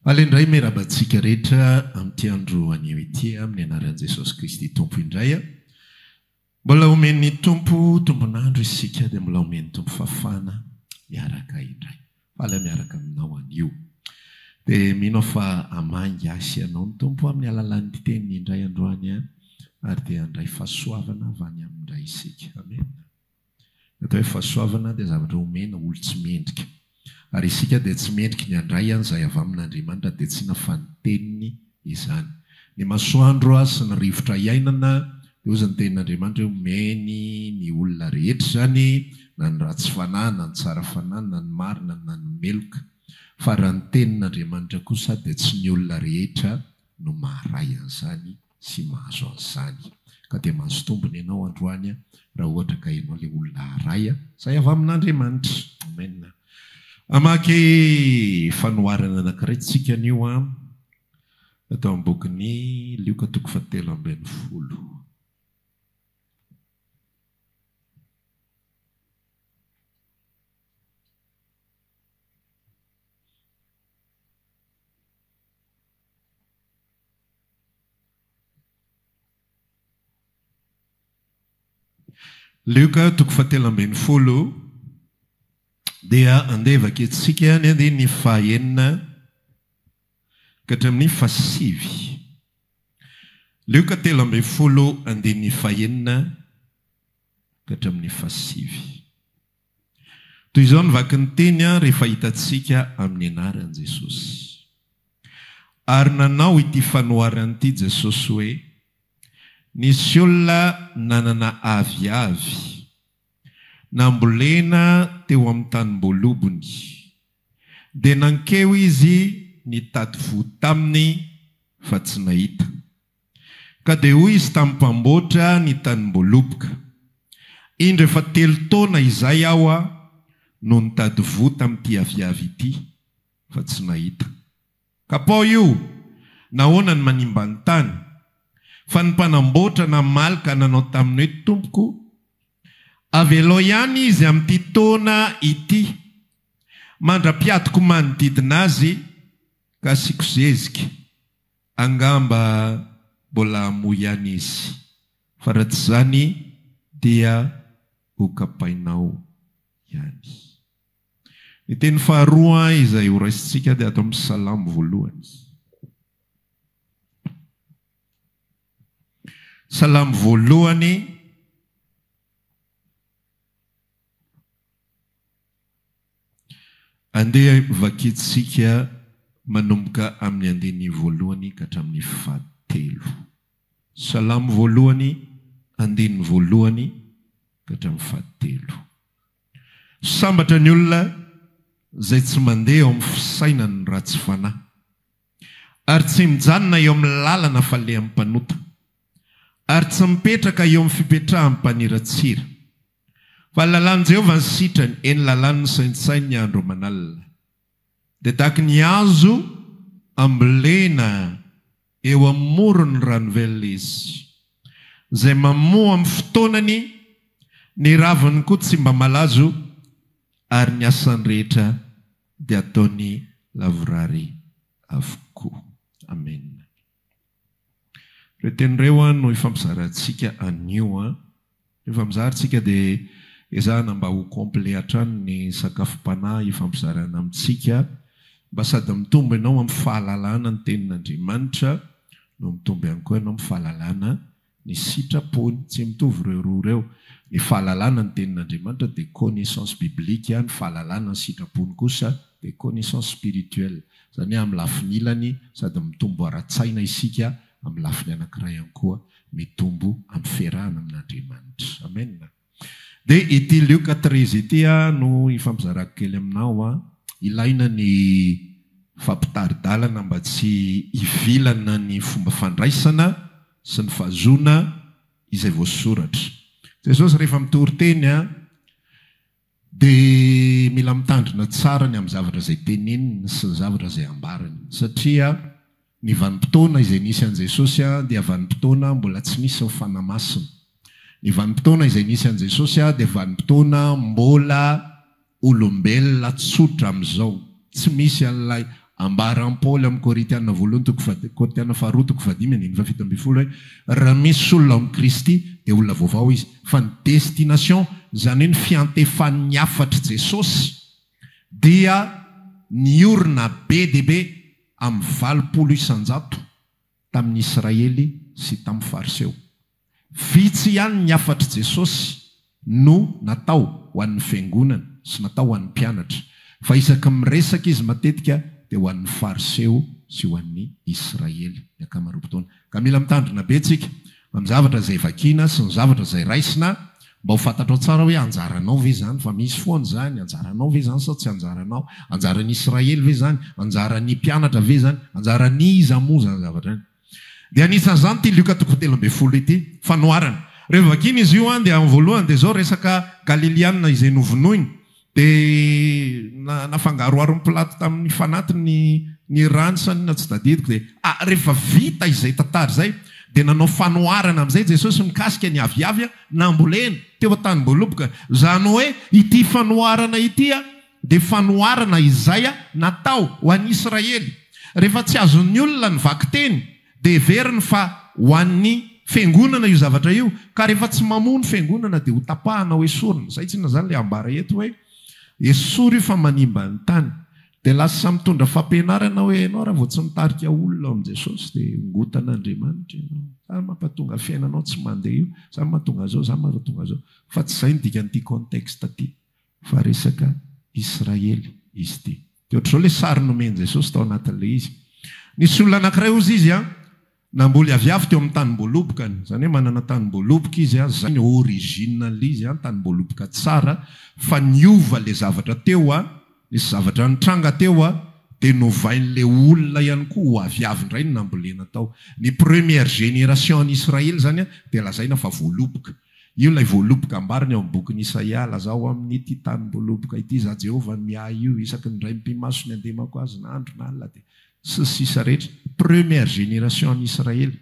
Alo indray miraba antsika rehetra amin'ity andro anio ity amin'ny anaran'i Jesosy Kristy Tompo indray. Mbola omen'ny Tompo tombon'andro isika dia mbola omen'ny Tompo fafana miaraka indray. Faly aho miaraka aminao anio. Dia mino aho fa hamangy ahy sy anao ny Tompo amin'ny alalan'ny teniny indray androany ary dia handray fahasoavana avy any aminy indray isika. Amena. Ny atao hoe fahasoavana dia zavatra omena olon-tsy mendrika. Ary isika dia tsy mendriky ny handray an' izay avy amin' Andriamanitra dia tsy inona fa ny Teniny izany. Ny masoandro a sy ny rivotra iainana dia hoy izany tenin' Andriamanitra hoe omeny ny olona rehetra izany na ny ratsy fanahy na ny tsara fanahy na ny marina na ny meloka. Fa raha ny Tenin' Andriamanitra kosa dia tsy ny olona rehetra no maharay an'izany sy mahazo an'izany. Ka dia mahazo tombony ianao androany raha ohatra ka ianao ilay olona haharay izay avy amin'Andriamanitra. Amen. Hamaky fanoharana anankiray tsika anio ato amin'ny bokin'i Lioka toko fahatelo ambin'ny folo. Lioka toko fahatelo ambin'ny folo dia andeha vakiantsika ny andininy fahenina ka hatramin'ny fahasivy. Lioka telo ambin'ny folo andininy fahenina ka hatramin'ny fahasivy. Toy izao ny vaky ny teny rehefa hitantsika amin'ny anaran'i Jesosy. Ary nanao ity fanoharana ity Jesosy hoe, Nisy olona nanana aviavy, nambolena teo amin'ny tanimboalobony, dia nankeo izy nitady voa taminy fa tsy nahita. Ka dia hoy izy tamin'ny mpamboatra ny tanim-boaloboka, Indro efa telo taona izay aho no nitady voa tamin'ity aviavy ity, fa tsy nahita. Kapao io! Nahoana ny manimba ny tany? Fa ny mpanamboatra namaly ka nanao taminy hoe, Tompoko, avelao ihany izy amin'ity taona ity, mandra-piadiko manodidina azy, ka asiako zezika. Angamba mbola hamoa ihany izy, fa raha tsy izany dia hokapainao ihany. Ny teny faharoa izay horaisintsika dia ato amin'ny Salamo voalohany. Salamo voalohany, Andeha vakintsika manomboka amin'ny andininy voalohany ka hatramin'ny fahatelo. Salamo voalohany, andininy voalohany ka hatramin'ny fahatelo. Sambatra ny olona izay tsy mandeha ao amin'ny fisainan'ny ratsy fanahy, ary tsy mijanona eo amin'ny lalana falehan'ny mpanota, ary tsy mipetraka eo amin'ny fipetrahan'ny mpaniratsira. Fa ny lalàn'i Jehovah ny sitrany, eny, lalàny nosaintsainy ny andro aman'alina. Dia tahaka ny hazo ambolena eo amoron'ny ranovelona izy, izay mamoa amin'ny fotoanany, ny raviny koa tsy mba malazo, ary ny asany rehetra dia ataony lavorary avokoa. Amena. Ireo teny ireo an no ifampizarantsika anio an. Rehefa mizara tsika dia ezahana mba ho complet hatrany ny sakafom-panahy ifampizarana amintsika mba sady mitombo ianao amin'ny fahalalana ny tenin'Andriamanitra no mitombo ihany koa ianao amin'ny fahalalana Ny sitrapony. Tsy mitovy ireo roa ireo. Ny fahalalana ny Tenin'Andriamanitra dia connaissance biblique, ny fahalalana ny sitrapony kosa dia connaissance spirituelle. Izany hoe amin'ny lafiny ilany sady mitombo ara-tsaina isika, amin'ny lafiny anankiray ihany koa mitombo amin'ny fiarahana amin'Andriamanitra. Amena. Dia ity Lioka treize ity aho no hifampizarako kely aminao an. Ilaina ny fampitari-dalana mba tsy hivilana ny fomba fandraisana sy ny fahazoana izay voasoratra. Jesosy rehefa mitory teny an, dia mila mitandrina tsara ny amin'ny zavatra izay teneniny sy ny zavatra izay ambarany. Satria Ny vanim-potoana izay nisy an'i Jesosy dia vanim-potoana mbola tsy nisy ny Fanahy Masina. Ny vanim-potoana izay nisy an'i Jesosy dia vanim-potoana mbola olombelona tsotra amin'izao. Tsy misy an'ilay ambaran'i Paoly amin'ny Korintiana voalohany toko fa, Korintiana faharoa toko fahadimy andininy fahafito ambin'ny folo hoe, Raha misy olona ao amin'i Kristy dia olona vaovao izy. Fa ny destination, izany hoe ny fiantefan'ny hafatr'i Jesosy dia niorina be dia be. amin'ny valopolo isan-jato tamin'ny Israely sy tamin'ny Fariseo. Vitsy ihany ny hafatr'i Jesosy no natao ho an'ny Fiangonana sy natao ho an'ny mpianatra, fa isaky ny miresaka izy matetika dia ho an'ny Fariseo sy ho an'ny Israely ny ankamaroam-potoana. Ka mila mitandrina be tsika amin'ny zavatra izay vakiana sy ny zavatra izay raisina mba ho fantatrao tsara hoe anjaranao ve izany fa misy foana izany, anjaranao ve izany sao tsy anjaranao, anjaran'ny Israely ve izany, anjaran'ny mpianatra ve izany, anjaran'iza moa izany zavatra izany. Dia anisan'izany ity Lioka toko telo ambin'ny folo ity, fanoharana. Rehefa vakiana izy io dia amin'ny voalohany dia izao resaka Galiliana izay novonoina. Dia nafangaroharo ny plat tamin'ny fanaty ny ny rano sa inona tsy tadidiko dia ah rehefa vita izay tantara izay dia nanao fanoharana amin'izay Jesosy mikasika ny aviavy nambolena teo an-tanim-boaloboka izany hoe ity fanoharana ity ah dia fanoharana izay ah natao ho an'i Israely rehefa tsy azon'ny olona ny vakiteny Dia heveriny fa ho an'ny Fiangonana io zavatra io, ka rehefa tsy mamoa ny Fiangonana dia hotapahana ho esorina. Izay tsinona izany ilay ambara eto hoe esory io fa manimba ny tany. Dia lasa mitondra fampianarana hoe ianao raha vao tsy mitarika olona ao amin'i Jesosy dia hongotana Andriamanitra ianao. Izany mampatonga fiainanao tsy mandeha io, izany mahatonga izao, izany mahatonga izao. Fa tsy izay ny dikan'ity contexte ity. fa resaka Israely izy ity. Dia ohatr'izao ilay sary nomen'i Jesosy tao anatin'ilay izy. Nisy olona anankiray hozy izy an, namboly aviavy teo amin'ny tanim-boalobokany. Izany hoe manana tanim-boaloboka izy an, izay no origine an'ilay izy an, tanim-boaloboka tsara, fa niova ilay zavatra teo an, nisy zavatra nitranga teo an, dia novain'ilay olona ihany koa ho aviavy indray ny nambolena tao. Ny première génération an'i Israely izany an, dia lazaina fa voaloboka. Io ilay voaloboka ambariny ao amin'ny bokin'i Isaia, Lazao amin'ity tanim-boaloboka ity, Izaho Jehovah no miahy io, isaky ny raim-pimaso ny andemako azy na andro na alina dia. Sy ny sisa rehetra. Première génération any Israely.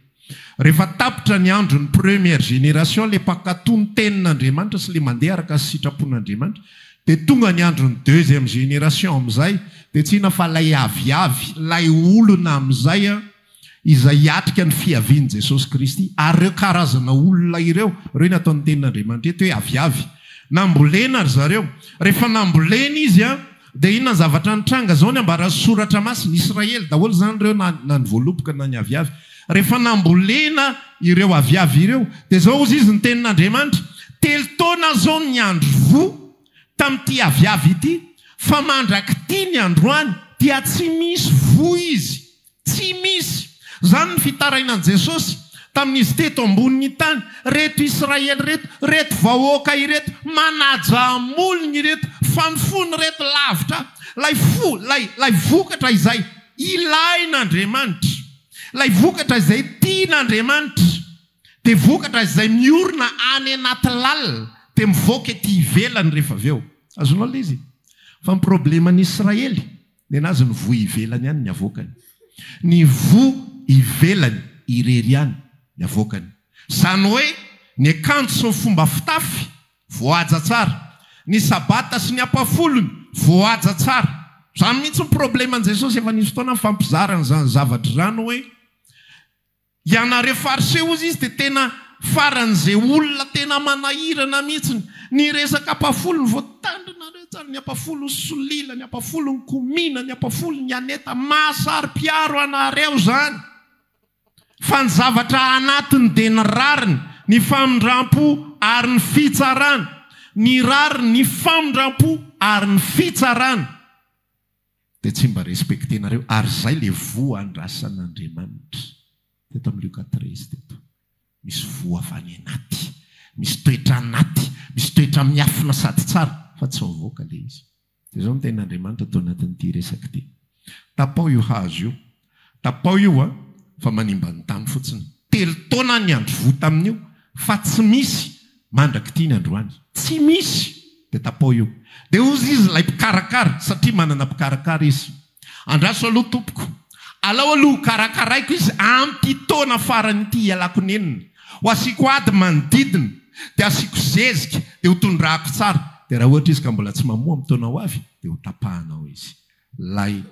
Rehefa tapitra ny andron'ny première génération, ilay mpankatò ny Tenin'Andriamanitra sy ilay mandeha araka ny sitrapon'Andriamanitra, dia tonga ny andron'ny deuxième génération amin'izay, dia tsy inona fa ilay aviavy, ilay olona amin'izay, izay hiatrika ny fiavian'i Jesosy Kristy. Ary ireo karazana olona ireo, ireo no ataon'ny Tenin'Andriamanitra eto hoe aviavy. Nambolena ry zareo. Rehefa nambolena izy, dia inona ny zavatra nitranga? Izao ny ambaran'ny Soratra Masina, Israely daholo izany ireo, na ny voaloboka na ny aviavy. Rehefa nambolena ireo aviavy ireo, dia izao hozy izy ny Tenin'Andriamanitra, Telo taona izao ny andro voa tamin'ity aviavy ity, fa mandrak'ity ny androany dia tsy misy voa izy. Tsy misy! Izany ny fitarainan'i Jesosy tamin'izy teto ambonin'ny tany. Reto Israely reto, reto vahoaka ireto, manaja amolony ireto, fa ny fony reto lavitra Ilay fo, Ilay, Ilay vokatra izay ilain'Andriamanitra, Ilay vokatra izay tian'Andriamanitra, dia vokatra izay miorina any anaty lalina, dia mivoaka ety ivelany rehefa avy eo. Azonao ilay izy? Fa ny probleman'ny Israely, Nenazy ny voa ivelany ihany ny avoakany. Ny voa ivelany irery ihany ny avoakany. Izany hoe ny akanjo sy ny fomba fitafy voahaja tsara. Ny sabata sy ny ampafolony voahaja tsara. Izany mihitsy ny probleman'i Jesosy efa nisy fotoana nifampizarany izany zava-dry rano hoe Ianareo fariseo hozy izy dia tena faran'izay olona tena manahirana mihitsy. Ny resaka ampafolo no voatandrinareo tsara, ny ampafolon'i Solila, ny ampafolon'i Komina, ny ampafolon'i Aneta. Mahasaro-piaro anareo izany fa ny zavatra anatiny dia ny rariny, ny famindrampo ary ny fitsarana. Ny rariny, ny famindrampo ary ny fitsarana. Dia tsy mba respectenareo ary izay le voa andrasan'Andriamanitra teto amin'ny Lioka treize teto. Misy voa avy any anaty, misy toetra anaty, misy toetra miafina sady tsara fa tsy mivoaka le izy. Dia izao ny tenin'Andriamanitra ato anatin'ity resaka ity, Tapaho io hazo io Tapao io a, fa manimba ny tany fotsiny. Telo taona ny andro voa tamin'io fa tsy misy mandrak'ity ny androany. Tsy misy! Dia tapao io. Dia hozy izy ilay mpikarakara, satria manana mpikarakara izy. Andraso aloha tompoko. Alao aloha ho karakaraiko izy amin'ity taona farany ity hialako nenina. Ho asiako ady manodidina, dia asiako zezika, dia ho tondrahako tsara. Dia raha ohatra izy ka mbola tsy mamoa amin'ny taona ho avy, dia ho tapahanao izy. Ilay.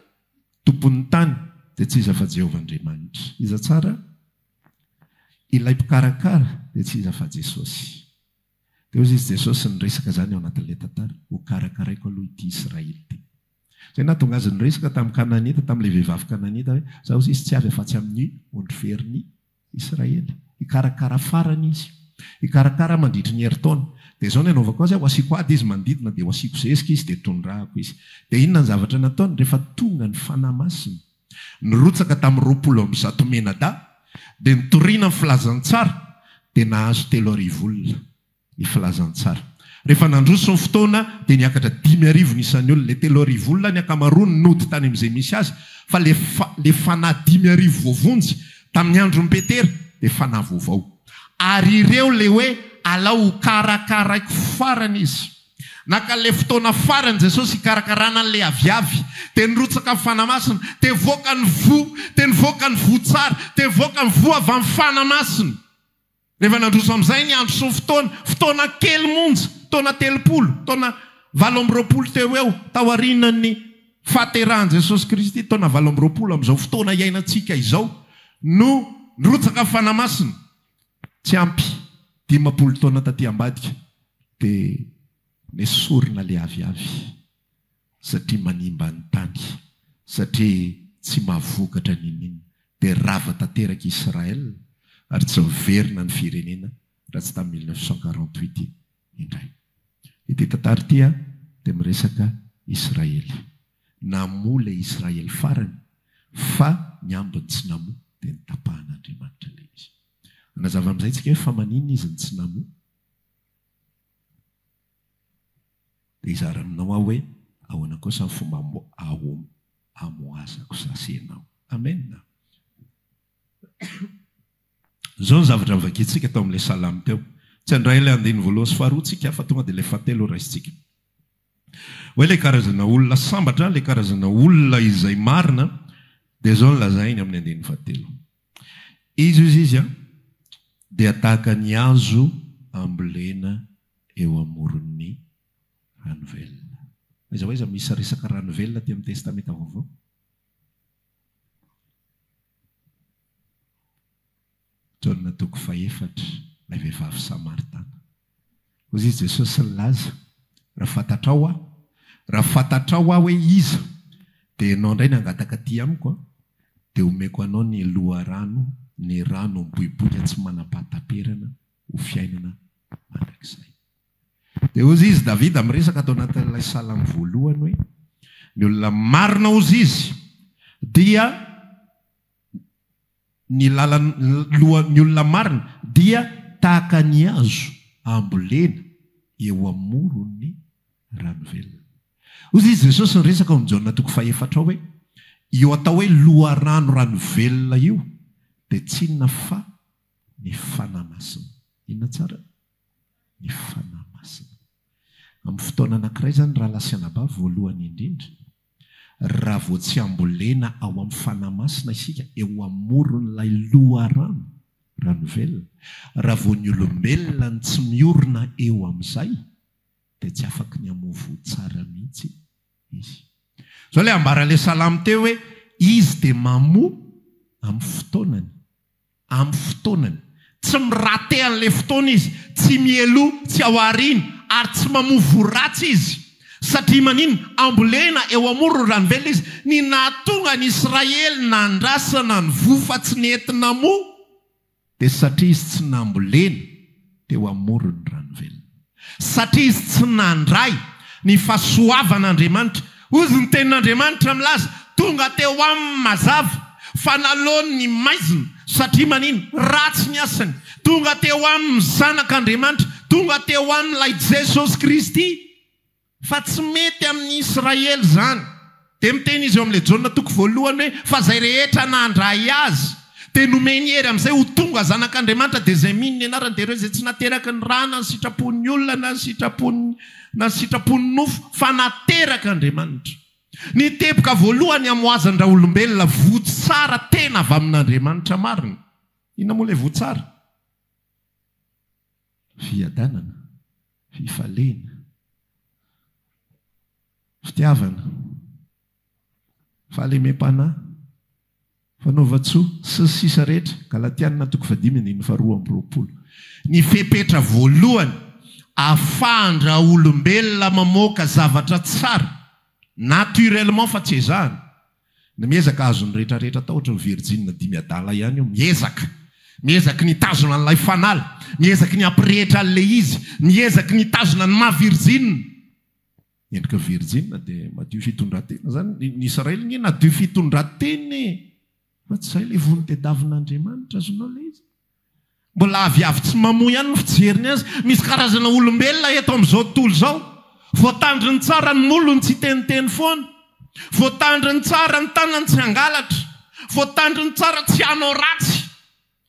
Tompon'ny tany dia tsy iza fa Jehovah Andriamanitra. Iza tsara? Ilay Mpikarakara dia tsy iza fa Jesosy. Dia hoy izy Jesosy niresaka izany ao anatin'ilay tantara, Hokarakaraiko aloha ity Israely ity. Izay nahatonga azy niresaka tamin'ny Kananita, tamin'ilay vehivavy Kananita hoe, Izaho hoy izy tsy avy afa-tsy amin'ny ondry ferin'i. Israely. Hikarakara farany izy. Hikarakara mandritry ny herintaona. Dia izao ny hanaovako azy, ho asiako ady izy manodidina, dia ho asiako zezika izy, dia tondrahako izy. Dia inona ny zavatra nataony? Rehefa tonga ny Fanahy Masina, nirotsaka tamin'ny roapolo amby zato mianadahy, dia nitoriana ny filazantsara, dia nahazo telo arivo olona. ny filazantsara. Rehefa nandroso ny fotoana dia niakatra dimy arivo ny isan'ny olona. Ilay telo arivo olona ny ankamaroany nody tany amin'izay misy azy, fa ilay fanahy dimy arivo voavonjy tamin'ny andron'i Petera dia fanahy vaovao. Ary ireo ilay hoe alao hokarakaraiko farany izy. Naka an'ilay fotoana farany Jesosy hikarakarana an'ilay aviavy. Dia nirotsaka ny Fanahy Masina. Dia nivoaka ny voa. Dia nivoaka ny voa tsara. Dia nivoaka ny voa avy amin'ny Fanahy Masina. Rehefa nandroso amin'izay ny andro sy ny fotoana, fotoana kely monja, taona telopolo, taona valo amby roapolo teo ho eo taorian'ny fahaterahan'i Jesosy Kristy, taona valo amby roapolo amin'izao fotoana iainantsika izao no nirotsaka Fanahy Masina, tsy ampy dimampolo taona taty ambadika dia nesorina ilay aviavy. satria manimba ny tany, satria tsy mahavokatra n'inon'inona. Dia rava tanteraka i Israël ary tsy miverina ny firenena raha tsy tamin'ny mille neuf cent quarante huit indray. Ity tantara ity dia miresaka Israël. Namoa ilay Israël farany fa ny ambiny tsy namoa dia notapahan'Andriamanitra ilay izy. Hanazava amin'izay isika hoe fa maninona izy no tsy namoa? Hizara aminao aho hoe ahoana kosa ny fomba hamohazako sasy ianao. Amen. Izao ny zavatra novakintsika tao amin'ilay salamo teo. Tsy handray ilay andininy voalohany sy faharoa tsika fa tonga dia ilay fahatelo raisintsika. Hoe ilay karazana olona sambatra, ilay karazana olona izay marina dia izao no lazainy amin'ny andininy fahatelo. Izy hoy izy an, dia tahaka ny hazo ambolena eo amoron'ny rano velona. Aiza ho aiza misy saresaka rano velona aty amin'ny Testamenta Vaovao? Jaona toko fahefatra, ilay vehivavy Samaritana. Hoy i Jesosy nilaza, Raha fantatrao Aho, raha fantatrao Aho hoe iza, dia ianao indray no hangataka aty amiko, dia homeko anao ny loharano, ny rano miboiboika tsy manam-pahataperana, ho fiainana mandrakizay. Dia hoy izy, Davida miresaka ato anatin'ilay salamo voalohany hoe, Ny olona marina hoy izy dia. ny lalan lohan ny olona marina dia tahaka ny hazo ambolena eo amoron ny rano velona. Hoy i Jesosy niresaka ao amin' Jaona toko fahefatra hoe, Io atao hoe loharano rano velona io dia tsy inona fa ny Fanahy Masina. Inona tsara? Ny Fanahy Masina. Amin' ny fotoana anankiray izany, rahalahy sy anabavy, voalohany indrindra, Raha vao tsy hambolena ao amin'ny fanahy masina isika eo amoron'ilay loharano, raha ny velona, raha vao ny olombelona no tsy miorina eo amin'izay, dia tsy afaky ny hamoa voa tsara mihitsy izy. Izao ilay ambaran'ilay salamo teo hoe, Izy dia mamoa amin'ny fotoanany. Amin'ny fotoanany. Tsy mi-rater an'ilay fotoana izy, tsy mialoha, tsy ao aoriana, ary tsy mamovoa ratsy izy. Satria maninona? Ambolena eo amoron'ny ranovelona izy. Ny nahatonga an'i Israely nandrasana ny voa fa tsy nety namoa, dia satria izy tsy nambolena. teo amoron'ny rano velona. Satria izy tsy nandray ny fahasoavan'Andriamanitra, hozy ny tenin'Andriamanitra milaza, tonga teo aminy mazava fa nalaony ny maizina, satria manino? Ratsy ny asany. Tonga teo aminy ny Zanak'Andriamanitra, tonga teo aminy ilay Jesosy Kristy. Fa tsy mety amin'ny Israely izany. Dia miteny izy eo amin'ilay Jaona toko voalohany hoe, Fa izay rehetra nandray Azy, dia nomeny hery amin'izay ho tonga zanak'Andriamanitra, dia izay mino ny anarany, dia ireo izay tsy nateraky ny ra, na ny sitrapon'ny olona, na ny sitrapon'ny, na ny sitrapon'ny nofo, fa naterak'Andriamanitra. Ny teboka voalohany hamohazan-draolombelona votsara tena avy amin'Andriamanitra marina. Inona moa ilay votsara? Fiadanana, fifalena, fitiavana, fahalemem-panahy, fanaovan-tsoa, sy ny sisa rehetra, Galatiana toko fahadimy andininy faharoa amby roapolo. Ny fepetra voalohany ahafahan-draolombelona mamoaka zavatra tsara, naturellement fa tsy ezahana, Ny miezaka hahazo ny rehetra rehetra atao ohatry ny virjinina dimy adala ihany io miezaka miezaky ny hitazona an'ilay fanala miezaky ny hampirehitra an'ilay izy miezaky ny hitazona ny maha virjinina endrika virjinina dia madio fitondratena zany ny ny israely nge nadio fitondratena e fa tsy zay le vono tedavina Andriamanitra azonao le izy Mbola aviavy tsy mamoa ihany ny fijeriny azy. Misy karazana olombelona eto amin'izao tontolo izao, voatandriny tsara ny molony tsy hiteniteny foana, voatandriny tsara ny tanany tsy hangalatra, voatandriny tsara tsy hanao ratsy,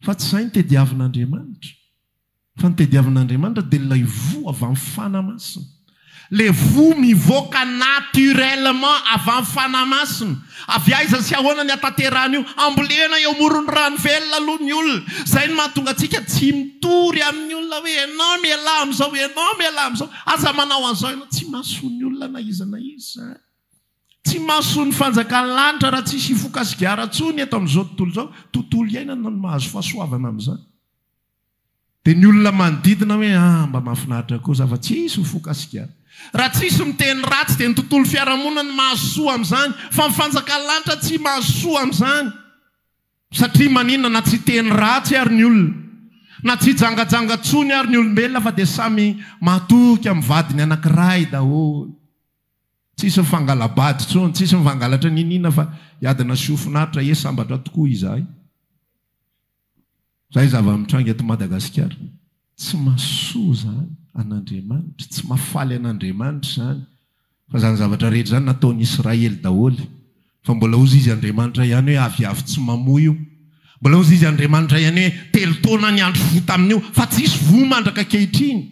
fa tsy izay no tediavin'Andriamanitra. Fa ny tediavin'Andriamanitra dia ilay voa avy amin'ny fanahy masina. Le voa mivoaka naturellement avy any fanamasina. Avy aiza sy ahoana ny hataterahana io? Ambolena eo amoron'ny rano velona aloha ny olona. Zay no mahatonga antsika tsy mitory amin'ny olona hoe ianao mialà amin'izao, ianao mialà amin'izao. Aza manao an'izao ianao. Tsy mahasoa ny olona na iza na iza. Tsy mahasoa ny fanjakan'ny lanitra raha tsisy hifoka sigara intsony eto amin'izao tontolo izao. Tontolo iainana no mahazo fahasoavana amin'izany. Dia ny olona manodidina hoe ah mba mahafinaritra kosa aho fa tsisy ho fokasika. Raha tsisy miteny ratsy dia ny tontolo fiarahamonina no mahazo soa amin'izany fa ny fanjakan'ny lanitra tsy mahazo soa amin'izany. Satria maninona na tsy hiteny ratsy ary ny olona, na tsy hijangajanga tsony ary ny olombelona fa dia samy mahatoky amin'ny vadiny anankiray daholo. Tsisy mifangala-bady tsony, tsisy mivangalatra niniana fa hiadana sy ho finaritra, ie sambatra tokoa izahay. Izay zava-mitranga eto Madagasikara. Tsy mahasoa izany an'Andriamanitra, tsy mahafaly an'Andriamanitra izany. Fa izany zavatra rehetra izany nataon'i Israely daholo. Fa mbola hozy izy Andriamanitra ihany hoe aviavy tsy mamoa io. Mbola hozy izy Andriamanitra ihany hoe telo taona ny andro fohy tamin'io fa tsy hisy voa mandraka ankehitriny.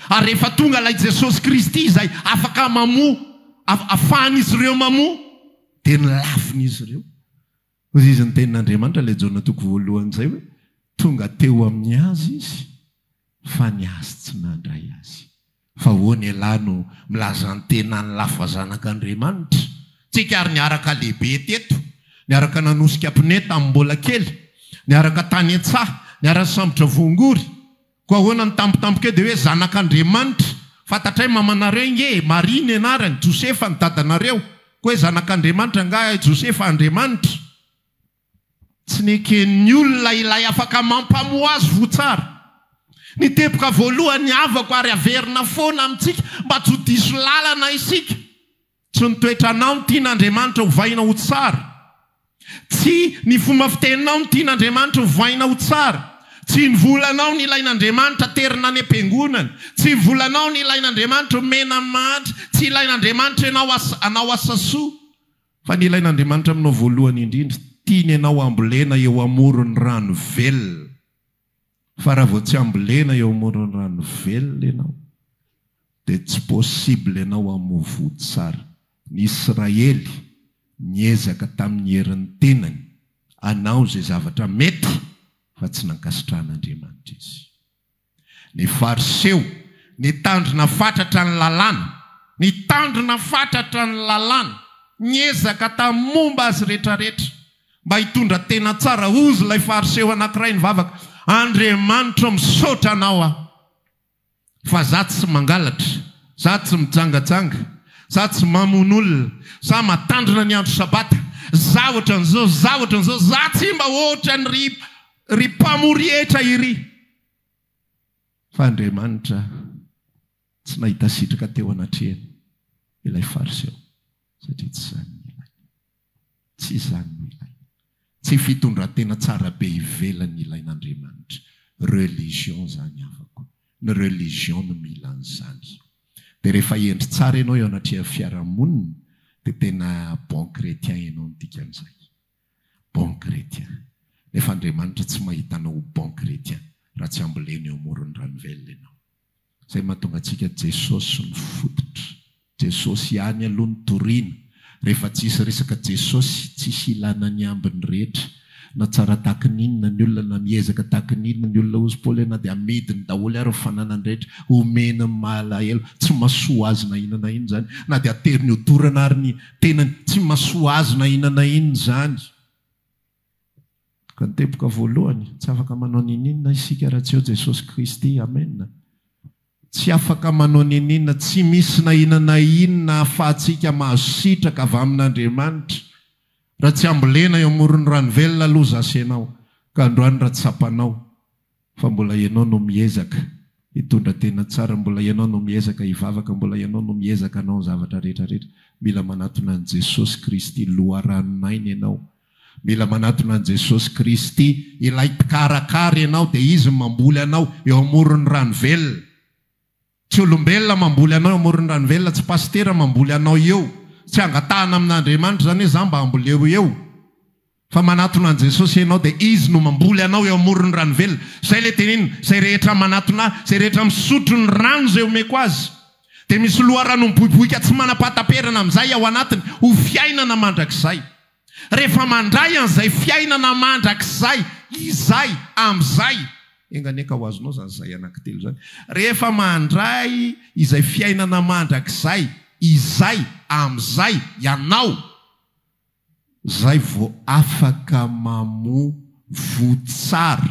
Ary rehefa tonga ilay Jesosy Kristy izay afaka mamoa, afahan'izy ireo mamoa, dia ny lavin'izy ireo. Hoy izy, Niteny n'Andriamanitra ilay Jaona toko voalohany izay hoe, Tonga teo amin'ny azy izy, fa ny azy tsy nandray azy. Fa ahoana ialahy no milaza ny tenany lafo fa zanak'Andriamanitra? Tsika ary niaraka lehibe teto, niaraka nanosika pneu tamin'ny mbola kely, niaraka tany an-tsaha, niara-nisambotra voangory. Koa ahoana ny tampotampoka eo dia hoe zanak'Andriamanitra? Fantatray mamanareo ange e! Maria ny anarany, Josefa ny dadanareo. Koa hoe zanak'Andriamanitra angaha i Josefa Andriamanitra? Tsy neken'ny olona ilay afaka mampamoha azy ho tsara. Ny teboka voalohany avako ary averina foana amintsika mba tsy ho diso lalana isika. Tsy ny toetranao no tian'Andriamanitra hovaina ho tsara. Tsy ny fomba fiteninao no tian'Andriamanitra hovaina ho tsara. Tsy ny volanao no ilain'Andriamanitra haterina any am-piangonana. Tsy ny volanao no ilain'Andriamanitra homena amin'ny mahantra. Tsy ilain'Andriamanitra ianao hanao asa soa. Fa ny ilain'Andriamanitra aminao voalohany indrindra, tiany ianao hambolena eo amoron'ny rano velona. Fa raha vao tsy ambolena eo amoron'ny rano velona ianao dia tsy possible ianao hamoa vody tsara. Ny Israely niezaka tamin'ny herin'ny tenany hanao izay zavatra mety fa tsy nankasitrahan'Andriamanitra izy. Ny Fariseo nitandrina fatratra ny lalàna, nitandrina fatratra ny lalàna, niezaka tamin'ny momba azy rehetrarehetra, Mba hitondra tena tsara hozy ilay Fariseo anankiray nivavaka, Andriamanitro ô, misaotra Anao aho fa za tsy mangalatra, za tsy mijangajanga, za tsy mamono olona, za matandrina ny andro Sabata, za ohatran'izao, za ohatran'izao, za tsy mba ohatran'iry ry mpamory hetra iry. Fa Andriamanitra tsy nahita sitraka teo anatrehany ilay Fariseo satria tsy izany ny ilainy. Tsy izany no ilaina. Tsy fitondran-tena tsara be ivelany ilain'Andriamanitra. Religion izany havako. Ny religion no mila an'izany. Dia rehefa hendry tsara ianao eo anatrehan'ny fiarahamonina dia tena bon chrétien ianao ny dikan'izay. Bon chrétien. Nefa Andriamanitra tsy mahita anao ho bon chrétien raha tsy ambolena eo amoron'ny ranovelona ianao. Izay mahatonga antsika Jesosy no fototra. Jesosy ihany aloha no toriana. Rehefa tsisy resaka Jesosy, tsisy ilana ny ambiny rehetra. Na tsara tahaka ny inona ny olona, na miezaka tahaka ny inona ny olona hozy Paoly hoe na dia amidiny daholo ary ny fananany rehetra, homeny ny mahalahelo. Tsy mahasoa azy na inona na inona izany. Na dia ateriny ho dorana ary ny tenany, tsy mahasoa azy na inona na inona izany. Ka ny teboka voalohany, tsy afaka manao niniana isika raha tsy eo Jesosy Kristy. Amen. Tsy afaka manao niniana, tsy misy na inona na inona ahafahantsika mahazo sitraka avy amin'Andriamanitra raha tsy ambolena eo amoron'ny rano velona loza asenao ka androany raha tsapanao fa mbola ianao no miezaka hitondra tena tsara mbola ianao no miezaka hivavaka mbola ianao no miezaka hanao ny zavatra rehetra rehetra mila manatona an'i Jesosy Kristy loharanon'aina ianao mila manatona an'i Jesosy Kristy ilay mpikarakara ianao dia Izy no mamboly anao eo amoron'ny rano velona Tsy olombelona mamboly anao eo amoron'ny rano velona, tsy pasitera mamboly anao eo, tsy angatahana amin'Andriamanitra izany hoe za mba amboleo eo, fa manatona an'i Jesosy ianao dia Izy no mamboly anao eo amoron'ny rano velona. Izay ilay teneniny, izay rehetra manatona ahy, izay rehetra misotro ny rano izay omeko azy, dia misy loharanony boiboika tsy manam-pahataperana amin'izay ao anatiny ho fiainana mandrakizay. rehefa mandray an'izay fiainana mandrakizay izay amin'izay, enga anie ka ho azonao izany zay anankitelo izany, rehefa mandray izay fiainana mandrakizay izay amin'izay ianao, izay vao afaka mamoa voa tsara,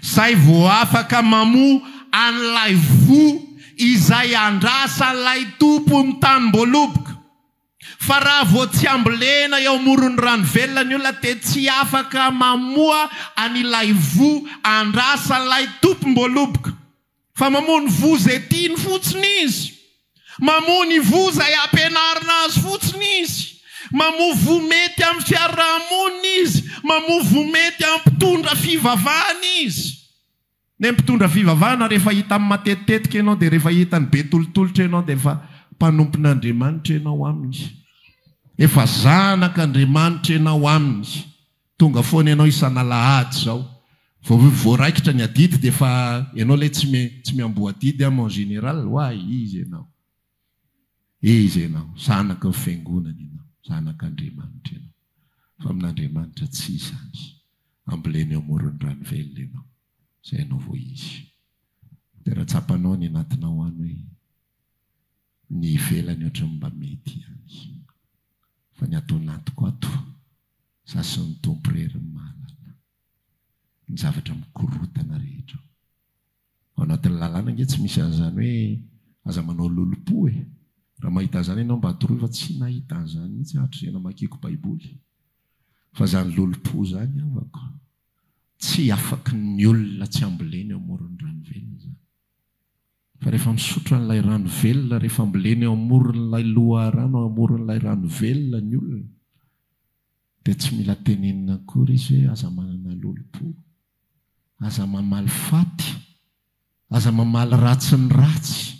izay vao afaka mamoa an'ilay voa izay andrasan'ilay tompon'ny tanim-boaloboka. Fa raha vao tsy ambolena eo amoron'ny rano velona ny olona dia tsy afaka mamoha an'ilay voa andrasan'ilay tompom-boaloboka. Fa mamoha ny voa izay tiany fotsiny izy. Mamoha ny voa izay ampianarina azy fotsiny izy. Mamoha voa mety amin'ny fiaraha-monina izy. Mamoha voa mety hampitondra fivavahana izy. Ny mpitondra fivavahana rehefa hitany matetitetika ianao dia rehefa hitany be tolotolotra ianao dia efa mpanompon'Andriamanitra ianao aminy. Efa zanak'Andriamanitra ianao aminy. Tonga foana ianao isan'alahady izao. Vao voaraikitra ny adidy dia efa ianao ilay tsy miamboho adidy am en général. Ho'a izy ianao. Izy ianao, zanaka ny fiangonana ianao, zanak'Andriamanitra ianao, fa amin'Andriamanitra tsy izany, ambolena eo amoron'ny rano velona ianao, izay ianao vao izy. Dia raha tsapanao any anatinao any hoe ny ivelany ohatran'ny mba mety ihany, fa ny ato anatiko ato, za sy ny Tompo irery no mahalala ny zavatra mikorotana rehetra ao. Ao anatin'ny lalàna ange tsy misy an'izany hoe aza manao lolompo e! Raha mahita an'izany ianao mba toroy fa tsy nahita an'izany mihitsy aho hatrizay namakiako baiboly fa izany lolompo izany havako tsy afaky ny olona tsy ambolena eo amoron'ny rano velona izany fa rehefa misotro an'ilay rano velona rehefa ambolena eo amoron'ilay loharano eo amoron'ilay rano velona ny olona dia tsy mila tenenina akory izy hoe aza manana lolompo Aza mamaly faty, aza mamaly ratsy ny ratsy.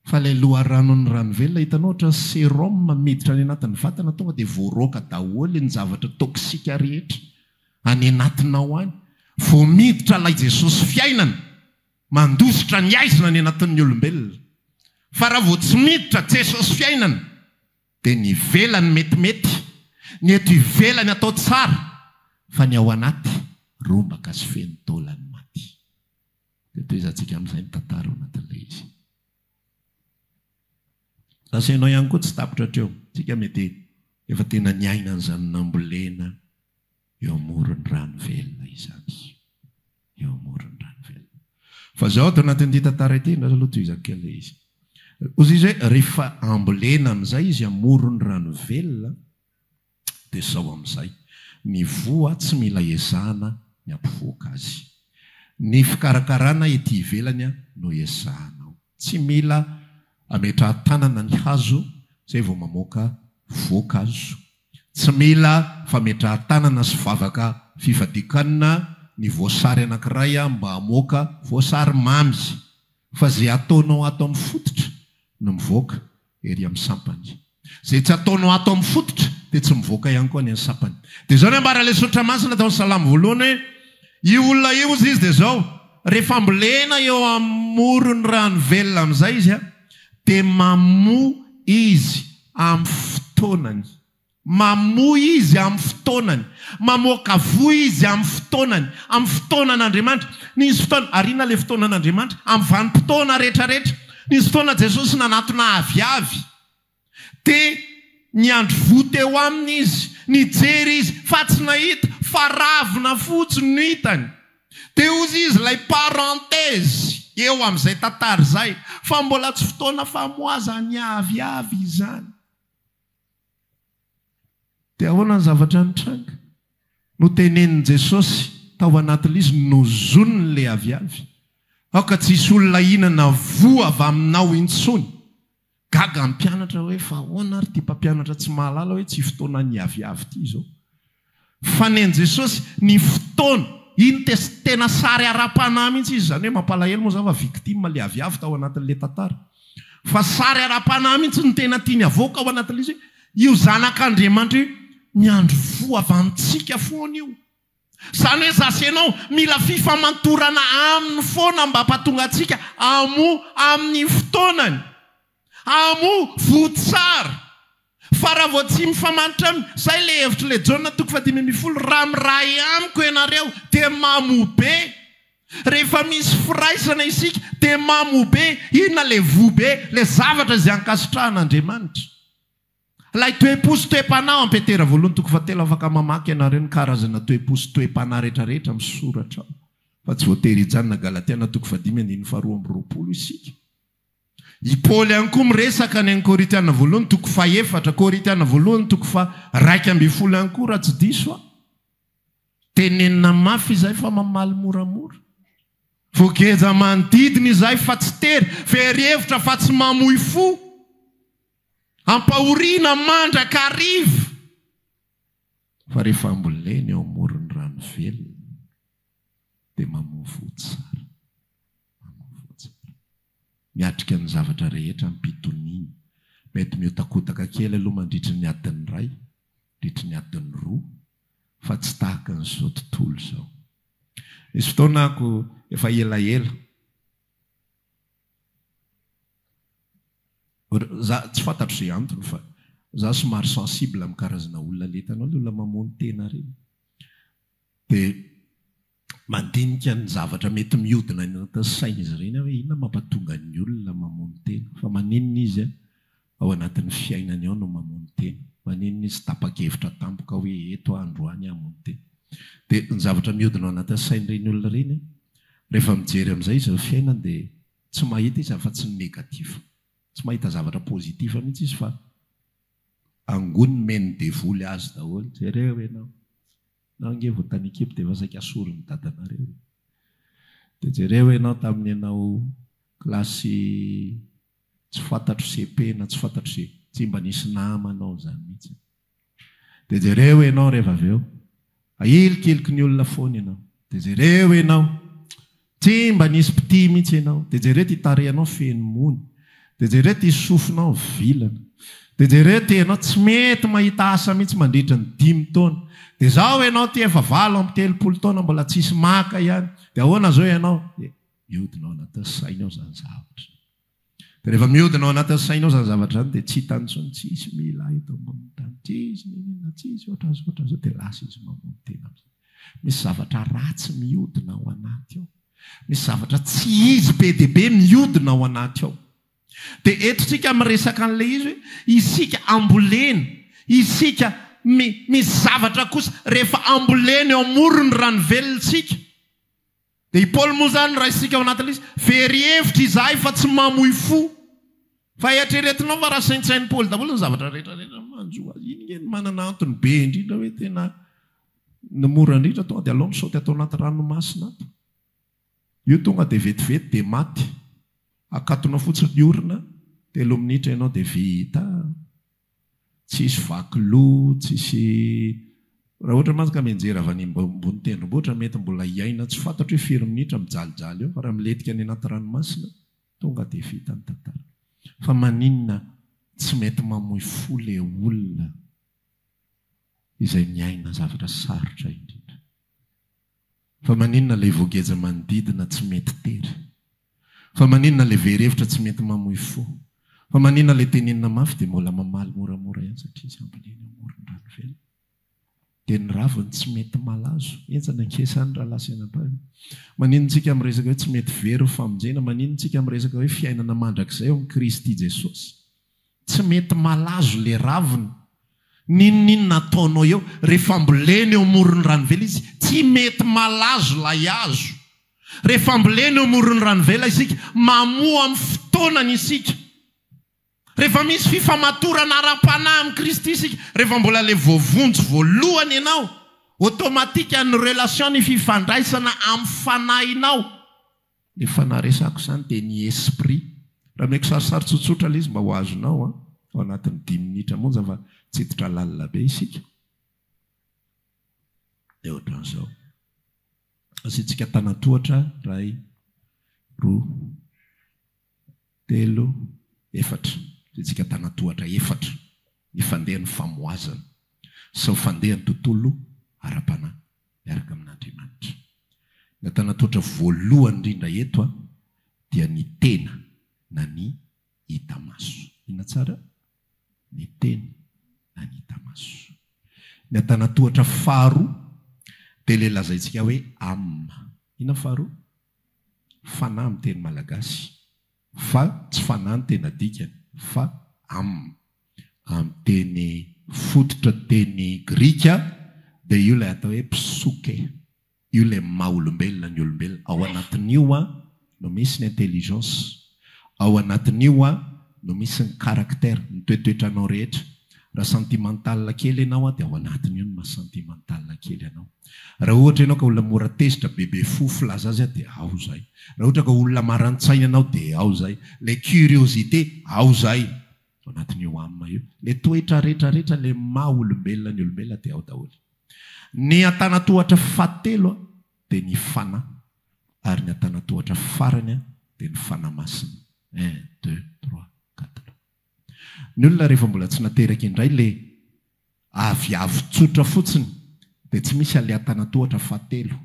Fa ilay loharanon'ny ranovelona, hitanao ohatran'ny serum miditra any anatin'ny vatana, tonga dia voaroaka daholo ny zavatra toxique rehetra any anatinao any. Vao miditra ilay Jesosy fiainana, mandositra ny aizina any anatin'ny olombelona. Fa raha vao tsy miditra Jesosy fiainana, Dia ny ivelany metimety, ny eto ivelany atao tsara, fa ny ao anaty rombaka sy feno taolan'ny maty. Dia tohizantsika amin'izay ny tantara ao anatin'ilay izy. Lasa ianao ihany koa tsy tapitra hatreo. Isika mety efa tena niaina an'izany nambolena Eo amoron'ny rano velona izany. Eo amoron'ny rano velona. Fa izao ato anatin'ity tantara ity, indray aloha tohizako kely ilay izy. Hoy izy hoe, rehefa ambolena amin'izay izy amoron'ny rano velona, dia izao amin'izay, ny voa tsy mila ezahana ny hampivoaka azy. Ny fikarakarana ety ivelany no ezahana ao. Tsy mila ametrahan-tanana ny hazo zay vao mamoaka voankazo. Tsy mila fametrahan-tanana sy vavaka fifadikanana ny voasary anankiray mba hamoaka voasary mamy. Fa ze ataonao ato amin'ny fototra no mivoaka ery amin'ny sampany. Izay tsy ataonao ato amin'ny fototra dia tsy mivoaka ihany koa any amin'ny sampany. Dia izao no ambara ilay soratra masina tao amin'ny salamo voalohany hoe, io olona io hozy izy dia izao, rehefa ambolena eo amoron'ny rano velona amin'izay izy dia mamoa izy amin'ny fotoanany. Mamoy izy amin'ny fotoanany. Mamoaka voa izy amin'ny fotoanany. Amin'ny fotoanan'Andriamanitra. Nisy fotoana, ary inona ilay fotoanan'Andriamanitra? Amin'ny vanim-potoana rehetra rehetra. Nisy fotoana Jesosy nanatona aviavy. Dia niandry voa teo aminy Izy. Nijery Izy, fa tsy nahita, fa ravina fotsiny no hitany. Dia hozy Izy ilay parenthèse eo amin'izay tantara izay, fa mbola tsy fotoana famoazan'ny aviavy izany. Dia ahoana ny zavatra nitranga? Notenenin'i Jesosy tao anatin'ilay izy, Nozoniny ilay aviavy. Aoka tsy hisy olona hihinana voa avy aminao intsony. Gaga ny mpianatra hoe, Fa ahoana ary ity mpampianatra tsy mahalala hoe tsy fotoanan'ny aviavy ity izao? Fa nen'i Jesosy ny fotoana. Iny test tena sary ara-panahy mihitsy izy, izany hoe mampalahelo moa izany fa victime ilay aviavy tao anatin'ilay tantara. Fa sary ara-panahy mihitsy no tena tiany havoaka ao anatin'ilay izy hoe io zanak'Andriamanitra io ny andro fohavantsika foana io. Izany hoe za sy ianao mila fifamantorana aminy foana mba hampatonga antsika hamoa amin'ny fotoanany. Amo voa tsara. Fa raha vao tsy mifamantra am zay le hevitry le Jaona toko fahadimy ambin'ny folo raha miray amiko ianareo de mamo be. Rehefa misy firaisana isika de mamo be. Inona le voa be? Le zavatra izay ankasitrahan' Andriamanitra. Ilay toe-po sy toe-panahy ao am Petera voalohany toko fahatelo afaka mamaky ianareo ny karazana toe-po sy toe-panahy retraretra misoratra ao. Fa tsy voatery hijanona Galatiana toko fahadimy andininy faharoa amby roapolo isika. I Paoly ihany koa miresaka any amin'ny Korintiana voalohany toko fahefatra, Korintiana voalohany toko faharaika ambin'ny folo ihany koa raha tsy diso aho. Tenenina mafy izay fa mamaly moramora. Voageja manodidina izay fa tsy tery, very hevitra fa tsy mamoy fo. Ampahoriana mandrakariva fa rehefa ambolena eo amoron'ny rano velona dia mamoa fo tsara. Manao vonjy be. Miatrika ny zavatra rehetra ampitoniany. Mety mihotakodaka kely aloha mandritry ny adiny iray, mandritry ny adiny roa, fa tsy tahaka an'izao tontolo izao. Nisy fotoana ako efa elaela, za tsy fantatro ze antony fa za somary sensible amin'ny karazana olona le hitanao le olona mamono tena reny de. Mandinika ny zavatra mety mihodina any anatin'ny sain'izy ireny aho hoe inona no mampatonga ny olona mamono tena? Fa maninona izy ao anatin'ny fiainany ao no mamono tena? Maninona izy tapa-kevitra tampoka hoe eto aho androany hamono tena? Dia ny zavatra mihodina ao anatin'ny sain'ireny olona ireny, rehefa mijery amin'izay izy ny fiainany dia tsy mahita izy afa-tsy ny negatif. Tsy mahita zavatra positif mihitsy izy fa angony nomen'ny devoly azy daholo. Jereo ianao. Ianao ange vao tany ekipa dia efa saika asorin'ny dadanareo e! Dia jereo ianao tamin'ny ianao kilasy tsy fantatro CP na tsy fantatro ze, tsy mba nisy namanao izany mihitsy. Dia jereo ianao reva avy eo, ahilikiliky ny olona foana ianao. Dia jereo ianao. Tsy mba nisy mpitia mihitsy ianao. Dia jereo ity tarehinao feno mony. Dia jereo ity sofinao vilana. Dia jereo ity ianao tsy mety mahita asa mihitsy mandritra ny dimy taona. Dia izao ianao ity efa valo amby telopolo taona mbola tsisy maka ihany. Dia ahoana izao ianao? Dia mihodina ao anatin'ny sainy ao izany zavatra izany. Dia rehefa mihodina ao anatin'ny sainao izany zavatra izany dia tsy hitany intsony, tsisy mila ahy eto ambonin'ny tany, tsisy n'inon'inona, tsisy ohatr'izao, ohatr'izao, dia lasa izy mamono tena amin'izay. Misy zavatra ratsy mihodina ao anaty ao. Misy zavatra tsy izy be dia be mihodina ao anaty ao. Dia eto isika miresaka an'ilay izy hoe isika ambolena, isika mi, misy zavatra kosa rehefa ambolena eo amoron'ny ranovelontsika. Dia i Paoly moa izany raisintsika ao anatin'ilay izy, very hevitra izahay fa tsy mamoy fo. Fa eritreretinao fa raha saintsain'i Paoly daholo ny zavatra rehetrarehetra no manjo azy, iny nge no manana antony be indrindra hoe tena ny mora indrindra tonga dia alao misaoty ato anaty ranomasina ato. Io tonga dia vetivety dia maty. Akatonao fotsiny ny orona, telo minitra ianao dia vita. Tsisy vaky loha, tsisy Raha ohatra mantsy ka mianjera avy any ambony tendrombohitra mety mbola hiaina tsy fantatro hoe firy minitra mijalijaly eo fa raha milentika any anaty ranomasina tonga dia vita ny tantara. Fa maninona tsy mety mamoy fo le olona izay miaina zavatra sarotra indrindra. Fa maninona lay voageja manodidina tsy mety tery? Fa maninona lay very hevitra tsy mety mamoy fo? Fa maninona lay tenenina mafy dia mbola mamaly moramora ihany satria tsy ampy leny amoron-drano velona? Dia ny raviny tsy mety malazo? Henjana ange izany rahalahy sy anabavy. Maninona isika miresaka hoe tsy mety very ho famonjena? Maninona isika miresaka hoe fiainana mandrakizay ao amin'i Kristy Jesosy? Tsy mety malazo le ravina. Ninoninona ataonao eo. Rehefa ambolena eo amoron'ny ranovela izy tsy mety malazo lay hazo. Rehefa ambolena eo amoron'ny ranovela isika, mamoa amin'ny fotoanany isika. Rehefa misy fifamatorana ara-panahy amin'i Kristy isika, rehefa mbola le voavonjy voalohany ianao, automatique ny relation, ny fifandraisana amin'ny fanahinao, Efa naresako izany dia ny esprit. Raha omeko sarisary tsotsotra ilay izy mba ho azonao an, ao anatin'ny dimy minitra monja fa tsy hiditra lalina be isika. Dia ohatran'izao. Asiantsika tanantohatra, iray, roa, telo, efatra. Asiantsika tanantohatra efatra. Ny fandehan'ny famohazana. Sao fandehan'ny tontolo ara-panahy. miaraka amin'Andriamanitra. Ny antanantohatra voalohany indrindra eto dia ny tena na ny hita maso. Inona tsara? Ny tena na ny hita maso. Ny antanantohatra faharoa dia ilay lazaintsika hoe âme. Inona ny faharoa? Fanahy amin'ny teny malagasy fa tsy fanahy ny tena dikany fa âme. amin'ny teny fototra teny grika dia io ilay atao hoe psyche, io ilay maha olombelona ny olombelona, ao anatin'io no misy ny intelligence, ao anatin'io no misy ny caractère, ny toetoetranao rehetra. Raha sentimental kely ianao dia ao anatin'io ny maha sentimental kely anao. Raha ohatra ianao ka olona mora tezitra, bebe fo, filaza azy dia ao izay. Raha ohatra ka olona marantsaina ianao dia ao izay. Ilay curiosité, ao izay. Ao anatin'io âme io. Ny toetra rehetra rehetra le maha olombelona ny olombelona dia ao daholo. Ny antanatohatra fahatelo dia ny Fanahy ary ny antanatohatra farany dia ny Fanahy Masina. Un, deux, trois, quatre. Ny olona rehefa mbola tsy nateraka indray le avy avo tsotra fotsiny dia tsy misy ale antanatohatra fahatelo.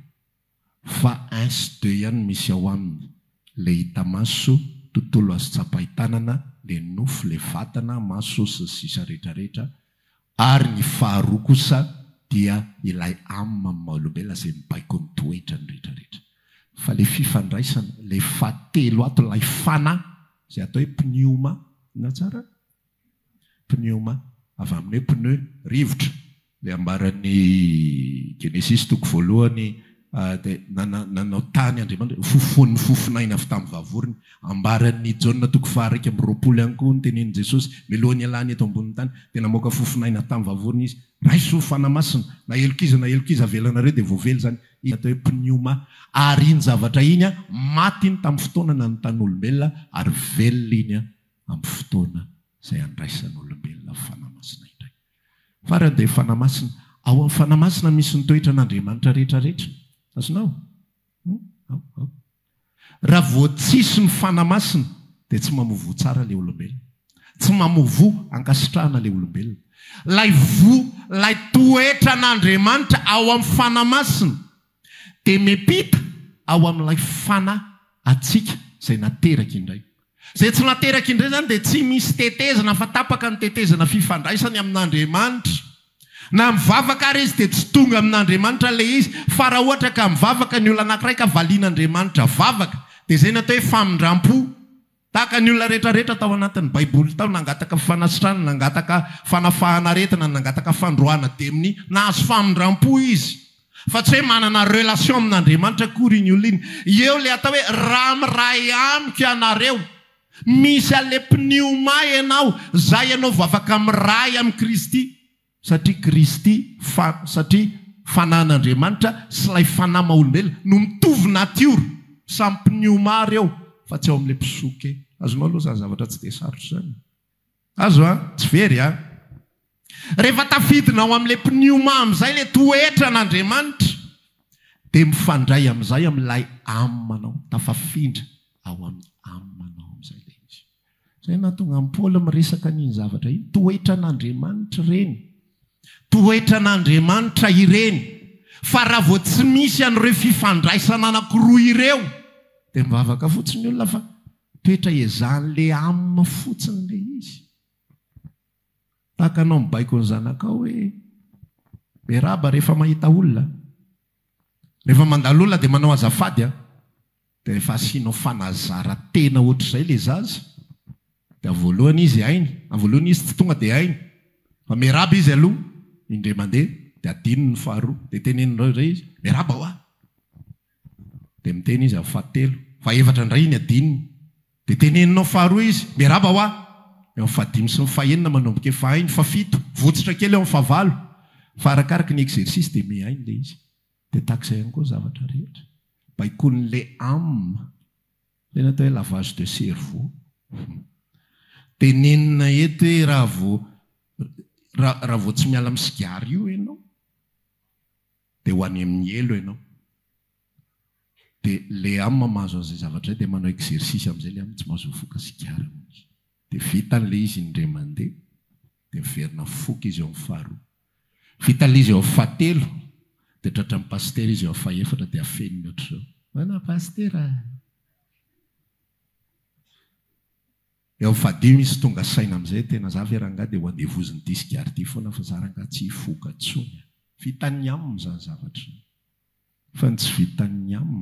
fa inst deux ihany misy ao aminy, le hita maso, tontolo azo tsapain-tanana, le nofo, le vatana, maso, sy ny sisa rehetra rehetra, ary ny faharoa kosa dia ilay âme amin'ny maha olombelona izay mibaiko ny toetrany rehetra rehetra. Fa le fifandraisana, le fahatelo ato ilay fana, izay atao hoe pnioma, na tsara? Pneuma, avy amin'ny hoe pneu, rivotra. Ilay ambaran'ny Genesisy toko voalohany, dia nanao tany Andriamanitra hoe, Fofonin'ny fofonaina avy tamin'ny vavony. Ambaran'ny Jaona toko faha-iraika amby roapolo ihany koa ny tenin'i Jesosy, mialoha ny hialany eto ambonin'ny tany, dia namoaka fofonaina tamin'ny vavony Izy. Raiso, ho Fanahy Masina, na helokizo na helokizo avelanareo dia voavely izany. Izy no atao hoe pneuma. Ary iny zavatra iny, maty iny tamin'ny fotoana nanontan'olombelona, ary velona iny amin'ny fotoana izay handraisan'olombelona ny Fanahy Masina indray. Farany dia Fanahy Masina, ao amin'ny Fanahy Masina misy ny toetran'Andriamanitra rehetra rehetra. Azonao? Hum? Ao, ao. Raha vao tsisy ny Fanahy Masina dia tsy mamoa voa tsara ilay olombelona. Tsy mamoa voa ankasitrahana ilay olombelona. Ilay voa, ilay toetran'Andriamanitra ao amin'ny Fanahy Masina. dia miampita ao amin'ilay fana hatsiaka izay nateraka indray. Izay tsy nateraka indray izany dia tsy misy tetezana fa tapaka ny tetezana fifandraisany amin'Andriamanitra. Na mivavaka ary izy dia tsy tonga amin'Andriamanitra ilay izy fa raha ohatra ka mivavaka ny olona anankiray ka valian'Andriamanitra vavaka dia izay no atao hoe famindrampo. Tahaka ny olona rehetra rehetra tao anatin'ny Baiboly tao, nangataka fanasitrana, nangataka fanafahana aretina, nangataka fandroahana demony. Nahazo famindram-po izy. Fa tsy hoe manana relation amin'Andriamanitra akory iny olona iny. Eo ilay atao hoe raha miray amiko ianareo. Misy an'ilay pneuma ianao, izay ianao vavaka miray amin'i Kristy. Satria Kristy, fa, satria Fanahin'Andriamanitra sy ilay Fanahy maha-olombelona no mitovy natiora, samy mpinioma àry ao, fa tsy ao amin'ilay mpisoka. Azonao aloha izany zavatra tsy dia sarotra izany e. Azo an? Tsy very an? Rehefa tafidina ao amin'ilay mpinioma amin'izay ilay toetran'Andriamanitra, dia mifandray amin'izay amin'ilay Amanao, tafafindra ao amin'ny Amanao amin'izay ilay izy. Izay nahatonga an'i Paoly miresaka an'iny zavatra iny. Toetran'Andriamanitra ireny. Toetran'Andriamanitra ireny. Fa raha vao tsy misy an'ireo fifandraisana anankiroa ireo, dia mivavaka fotsiny ny olona fa toetra ezahin'ilay âme fotsiny ilay izy. Tahaka anao mibaiko ny zanakao hoe, miarahaba rehefa mahita olona. Rehefa mandalo olona dia manao azafady an. Dia rehefa asianao fanazara tena ohatr'izay le zaza dia voalohany izy hainy, amin'ny voalohany izy tsy tonga dia hainy fa miarahaba izy aloha indray mandeha dia adinony ny faharoa dia teneninao indray izy miarahaba hoa dia miteny izy amin'ny fahatelo, fahefatra indray iny adinony dia teneninao faharoa izy miarahaba hoa eo amin'ny fahadimy sy ny fahenina manomboka efa hainy, fahafito, votsitra kely eo amin'ny fahavalo fa arakaraky ny exercice dia mihaino le izy. Dia tahak'izay ihany koa ny zavatra rehetra. Baikon'ilay âme. Izay natao hoe lavage de cerveau. Dia nenina eto hoe raha vao, raha, raha vao tsy miala amin'ny sigara io ianao, dia ho any amin'ny helo ianao. Dia ilay âme mahazo an'izay zavatra izay dia manao exercice amin'izay ilay âme, tsy mahazo mifoka sigara mihitsy. Dia vita ilay izy indray mandeha, dia miverina foko izy eo amin'ny faharoa. Vita ilay izy eo amin'ny fahatelo, dia tratran'ny pasitera izy eo amin'ny fahefatra, dia afeniny ohatr'izao, Ahoana pasitera a! Eo amin'ny fahadimy izy tonga saina amin'izay, Tena za ve rangahy dia ho andevozin'i Disc Arty foana fa za rangahy tsy hifoka intsony a! Vitan'ny aminy izany zavatra izany. Fa ny tsy vitan'ny am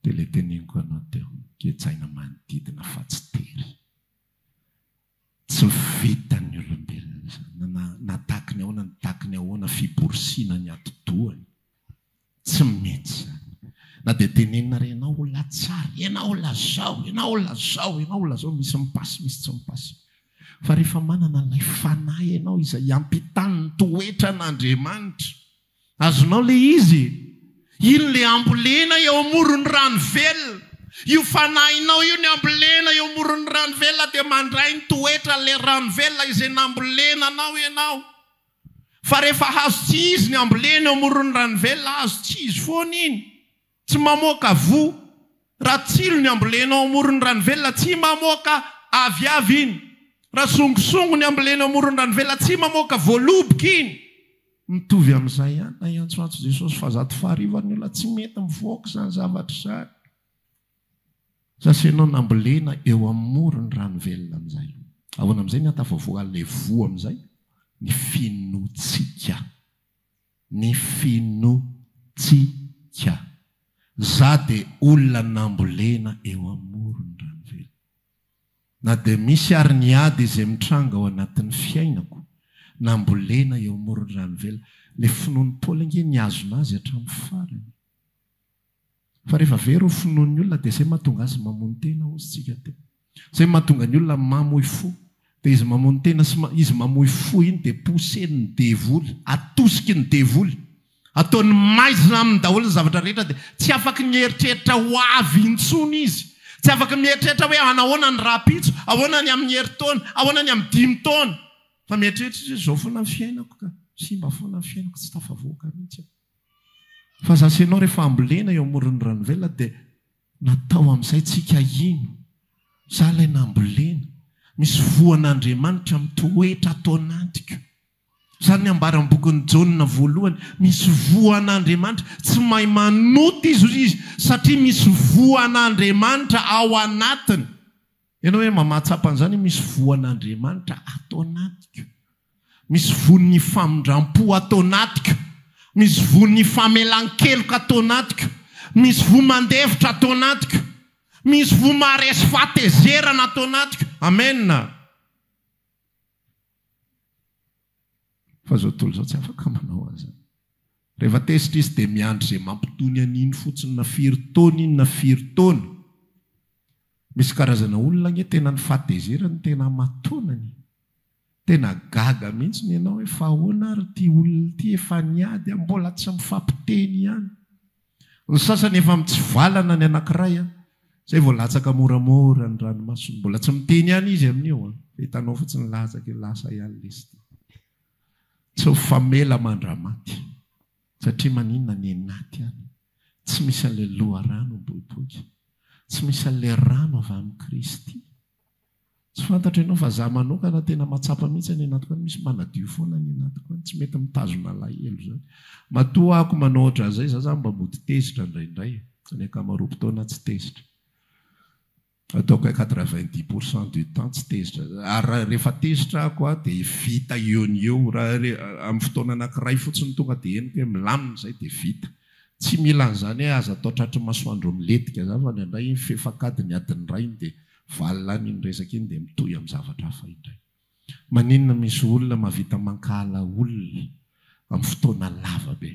dia ilay teneniko anao teo, gejaina manodidina fa tsy tery. Tsy vitan'ny olombelona izany na na takiny ahoana ny takiny ahoana fiborosiana ny atidohany. Tsy mety izany. Na dia tenenina ary ianao ho latsary, ianao lazao, ianao lazao, ianao lazao, misy mipasy misy tsy mipasy. Fa rehefa manana ilay Fanahy ianao izay iampitàn'ny toetran'Andriamanitra, Azonao le izy e! Iny le ambolena eo amoron'ny rano velona. Io fanahinao io ny ambolena eo amoron'ny rano velona dia mandray ny toetran' le rano velona izay nambolena anao ianao. Fa rehefa hazo tsy izy ny ambolena eo amoron'ny rano velona, hazo tsy izy foana iny. Tsy mamoaka voa raha tsilo ny ambolenao amoron'ny ranovelona, tsy mamoaka aviavy iny. Raha songosongo ny ambolenao amoron'ny ranovelona, tsy mamoaka voaloboka iny. Mitovy amin'izay ihany, na hiantsoantso Jesosy fahazato fahariva ny olona, tsy mety mivoaka izany zavatra izany. Sasa ianao nambolena eo amoron'ny ranovelona amin'izay. Ahoana amin'izay ny hahatafavoahan'ilay voa amin'izay? Ny finoantsika. ny fino tsi ka. Za de olona nambolena eo amoron dranovelona. Na de misy ary ny ady izay mitranga ao anatin'ny fiainako, nambolena eo amoron dranovelona. Le finoan'i Paoly ange niazona azy hatramin'ny farany. Fa rehefa very ho finoan'ny olona dia izay mahatonga azy mamono tena hozy tsika teo. Izay mahatonga ny olona mamoy fo. Dia izy mamono tena sy izy mamoy fo iny dia poussen'ny devoly, atosiky ny devoly. Ataony maizina aminy daholo ny zavatra rehetra dia tsy afaky mieritreritra ho avy intsony izy. Tsy afaky mieritreritra hoe hanahoana ny rahampitso, ahoana ny amin'ny herintaona, ahoana ny amin'ny dimy taona. Fa mieritreritra izy hoe izao foana ny fiainako ka, simba foana ny fiainako, tsy tafavoaka mihitsy aho. Fa za sy ianao rehefa ambolena eo amoron'ny ranovelona dia natao amin'izay tsika hino. Za ilay nambolena. Misy voan'Andriamanitra mitoetra ato anatiko. Izany ny ambaran'ny bokin'i Jaona voalohany. Misy voan'Andriamanitra. Tsy mahay manota izy satria misy voan'Andriamanitra ao anatiny. Ianao ve mba mahatsapa an'izany hoe misy voan'Andriamanitra ato anatiko? Misy voan'ny famindram-po ato anatiko. Misy voan'ny famelan-keloka ato anatiko. Misy voa mandefitra ato anatiko. Misy voa maharesy fahatezerana ato anatiko. Amena. Fa izao tontolo izao tsy afaka manao an'izany. Rehefa tezitra izy dia miandry izay mampitony an'iny fotsiny na firy taona iny na firy taona. Misy karazana olona anie tena ny fahatezerany no tena hamatonany. Tena gaga mihitsy ny ianao hoe fa ahoana ary ity olona ity efa niady a, mbola tsy mifampiteny ihany. Ny sasany efa mitsivalana ny anankiray an! Izay vao latsaka moramora ny ranomasony. Mbola tsy miteny ihany izy amin'io an! Fa hitanao fa tsy nilatsaka io, lasa ihany lesty. Tsy ho famela mandra-maty. Satria maninona any anaty any, tsy misy an'ilay loharano miboiboika. Tsy misy an'ilay rano avy amin'i Kristy. Tsy fantatro ianao fa za manokana tena matsapa mihitsy any anatiko any misy manadio foana any anatiko any tsy mety mitazona alahelo zany matoa ahako manao otran'izay za zany mba mody tezitra ndraindray fa ny ankamaroam-potoana tsy tezitra ataoko un quatre vingt dix pour cent du temps tsy tezitra za ary rehefa tezitra ahako a de vita eo ny eo raha amin'ny fotoana anakiray fotsiny tonga de henoko hoe milamina izay de vita Tsy mila an'izany hoe aza atao tratry ny masoandro miletika izany fa indraindray iny fefankadiny adiny iray iny dia valona any iny resaka iny dia mitohy amin'ny zavatra hafa indray. Maninona misy olona mahavita mankahala olona amin'ny fotoana lava be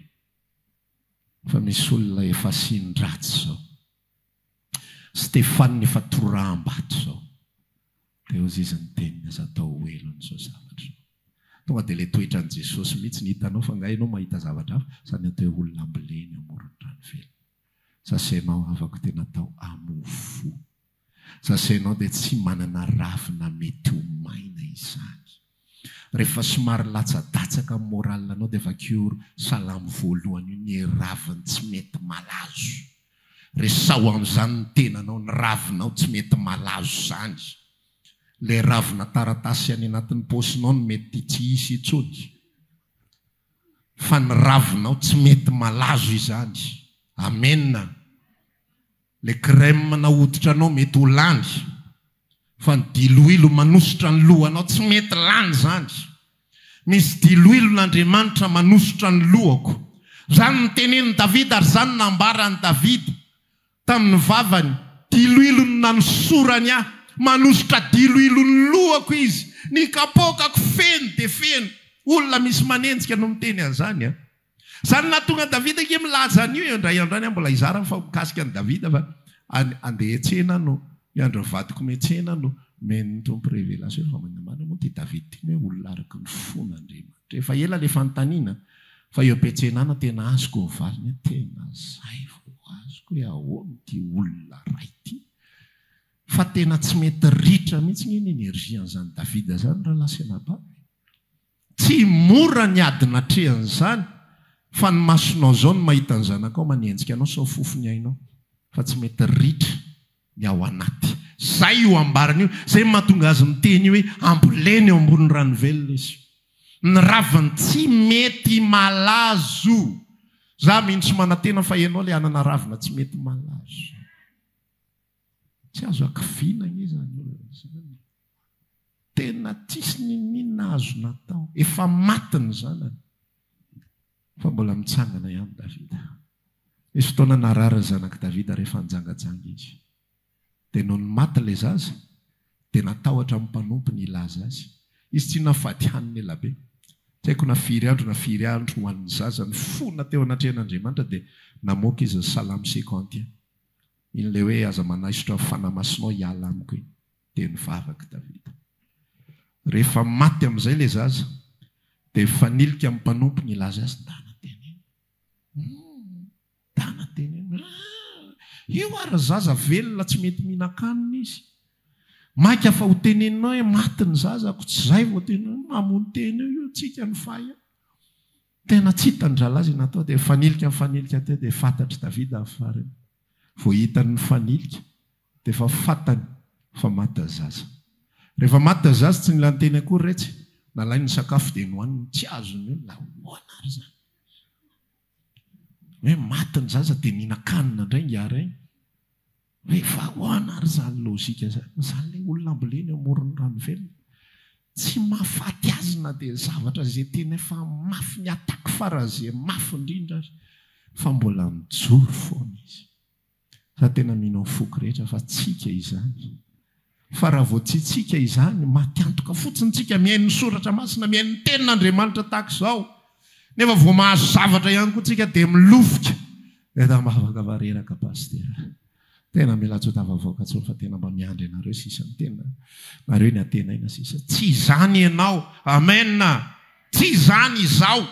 fa misy olona efa asin-dratsy izao. Stefan efa toraham-bato zao. Dia hozy izy niteny ny aza atao ho elo an'izao zavatra izao. Tonga dia ilay toetran'i Jesosy mihitsy ny hitanao fa nga ianao mahita zavatra hafa sa ny atao hoe olona amboleny eo amoron'ny rano velona. Sasenao havako dia natao amo fo. Sasenao dia tsy manana ravina mety ho maina izany. Rehefa somary latsadatsaka amin'ny moral anao dia vakio salamo voalohany io ny raviny tsy mety malazo. Resaho an'izany ny tenanao, ny ravinao tsy mety malazo izany. Ilay ravina taratasy any anatin'ny paosinao no mety tsy hisy intsony. Fa ny ravinao tsy mety malazo izany. Amena. Le crème na hoditra anao mety ho lany fa ny diloilo manosotra ny lohanao tsy mety lany zany misy diloilo n'Andriamanitra manosotra ny lohako zany ny tenenin'i Davida ary zany no nambaran'i Davida tamin'ny vavany diloilo no nanosorany ahy manosotra diloilo ny lohako izy ny kapôkako feno dia feno olona misy manenjika no miteny an'izany a. Izany no nahatonga Davida ange milaza an'io eo indray andro any aho mbola hizara fa mikasika an'i Davida fa any andeha hiantsena no hiandry ny vadiko miantsena no nomen'ny Tompo révélation fa maninona marina moa ity Davida ity no hoe olona araka ny fon'Andriamanitra efa ela le fanontaniana fa eo am-piantsenana tena azoko ny valiny hoe tena zay vao azoko hoe ahoana ity olona ray ity fa tena tsy mety ritra mihitsy nge ny energie an'izany Davida zany rahalahy sy anabavy Tsy mora ny ady natrehan'izany fa ny masonao izao no mahita ny zanakao manenjika anao sao fofo ny ainao fa tsy mety ritra ny ao anaty. Izay io ambarany io, izay mahatonga azy miteny hoe ambolena eo ambony rano velona izy. Ny raviny tsy mety malazo. Za mino sy manantena fa ianao le hanana ravina tsy mety malazo. Tsy azo hakiviana anie izany olona izany e! Tena tsisy n'inon'inona azo natao. Efa maty ny zanany fa mbola mitsangana ihany Davida. Nisy fotoana narary ny zanak'i Davida rehefa nijangajanga izy. Dia nony maty ilay zaza dia natahotra ny mpanompo ny hilaza azy. Izy tsy inona fa hadihaniny ela be. Tsy haiko na firy andro na firy andro ho an'ny zaza nifona teo anatrehan'Andriamanitra dia namoaka izy ny salamo cinquante et un. Iny ilay hoe aza manaisotra ny fanahy masinao hiala amiko iny dia nivavaka Davida. Rehefa maty amin'izay ilay zaza dia mifanilika amin'ny mpanompo nilaza azy, Ndana teneno umm ndana teneno aah io ary zaza velona tsy mety mihinan-kanina izy mainka fa ho teneninao hoe maty ny zazako tsy izay vao tena mamono tena eo io tsika ny fay a! Tena tsy hitan'ny rahalahy izay natao dia mifanilika mifanilika teo dia fantatr'i Davida ny farany. Vao hitany mifanilika dia efa fantany fa maty tazaza. Rehefa maty tazaza tsy nila niteny akory retsy, nalainy ny sakafo dia nohaniny, tsy azon'ny olona ahoana ary izany? Hoe maty ny zaza dia nihinan-kanina indray ingahy Ray? Rehefa ahoana ary izany logika izany? Izany ilay olona ambolena eo amoron'ny rano velona. Tsy mahafaty azy na dia ny zavatra izay tena efa mafy ny attaque pharasé mafy indrindra aza. Fa mbola mijoro foana izy. Za tena mino amin'ny foko rehetra fa tsika izany. Fa raha vao tsitsiaka izany, maty antoka fotsiny tsika mihaino ny soratra masina, mihaino ny tenin'Andriamanitra tahaka izao, nefa vao mahazo zavatra ihany koa tsika dia milofika eto ambavaka fa reraka Pasitera. Tena mila tsy ho tafavoaka tsony fa tena mba miandry anareo sisa ny tena nareo ny antenaina sisa. Tsy izany ianao. Amen. Tsy izany izaho.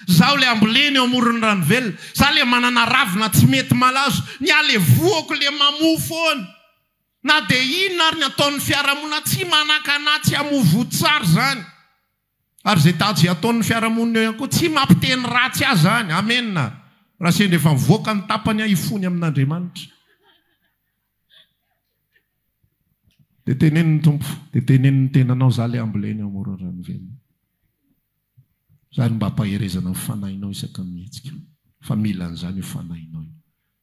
Zaho le ambolena eo amoron'ny rano velona. Za le manana ravina tsy mety malazo. Ny ahy le voako le mamoa foana. Na dia inona ary ny ataon'ny fiarahamonina tsy manakana tsy hamovoa tsara izany. Ary izay daje ataon'ny fiarahamonina eo ihany koa tsy mampiteny ratsy ahy izany. Amena. Raha sendra efa mivoaka ny tapany aho hifony amin'Andriamanitra. Dia teneno ny Tompo, dia teneno ny tenanao, izaho ilay amboleny ao amoron'ny rano velona. Izaho no mba hampaherezana ny fanahinao isaky ny mihetsika. Fa mila an'izany io fanahinao io.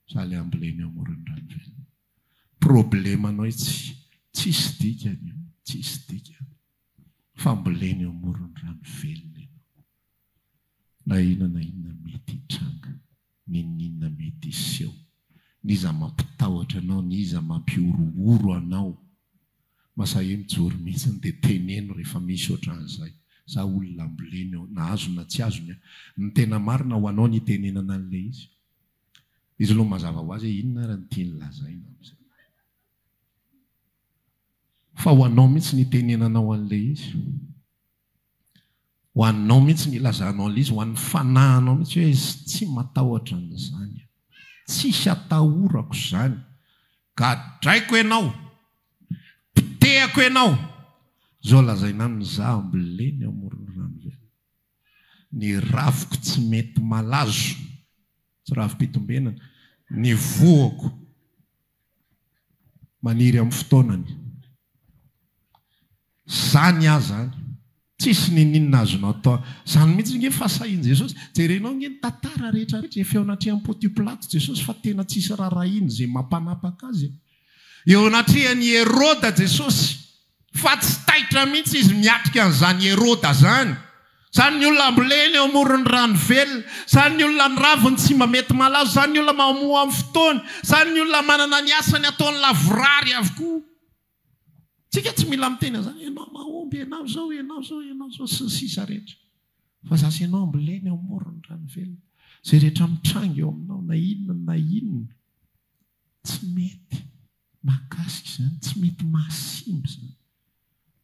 Izaho ilay amboleny ao amoron'ny rano velona. Problemanao itsy tsisy dikany io tsisy dikany fambolena eo amoron'ny rano velona ianao na inona na inona mety hitranga n'inona inona mety hiseho n'iza mampitahotra anao n'iza mampihorohoro anao masahe mijoro mitsiny dia teneno rehefa misy otran'izay za olona ambolena eo na azony na tsy azony an ny tena marina ho anao ny itenenana an'ilay izy Izy no mazava ho azy hoe inona ary ny tiany lazaina amin'izay. Fa ho anao mihitsy ny itenenanao an'ilay izy. Ho anao mihitsy ny ilazanao an'ilay izy, ho an'ny fanahinao mihitsy hoe tsy matahotra an'izany aho. Tsisy atahorako izany. Gadraiko ianao. Potehako ianao. Izao lazaina aminy, izaho ambolena eo amoron'ny rano velona. Ny rafiko tsy mety malazo. Tsy rafi-pitombenana. Ny voako maniry amin'ny fotoanany. Izany aza an! Tsisy niniana azonao atao. Izany mihitsy ange fahasahian'i Jesosy. Jerenao ange ny tantara rehetra rehetra izay feo anatrehan'i Pontio Pilato Jesosy fa tena tsisy rarahiana izay mampanapaka Azy e! Eo anatrehan'i Heroda Jesosy. Fa tsy taitra mihitsy izy miatrika an'izany Heroda izany. Izany ny olona ambolena eo amoron'ny rano velona. Izany ny olona miravo ny tsy mba mety malazo. Izany ny olona mahamoa amin'ny fotoany. Izany ny olona manana ny asany ataony lavorary avokoa. Tsika tsy mila miteny an'izany, ianao mahomby, ianao izao, ianao izao, ianao izao, sy ny sisa rehetra. Fa za sy ianao ambolena eo amoron'ny rano velona. Izay rehetra mitranga eo aminao, na inona na inona. Tsy mety mahakasika izany, tsy mety mahasimba izany,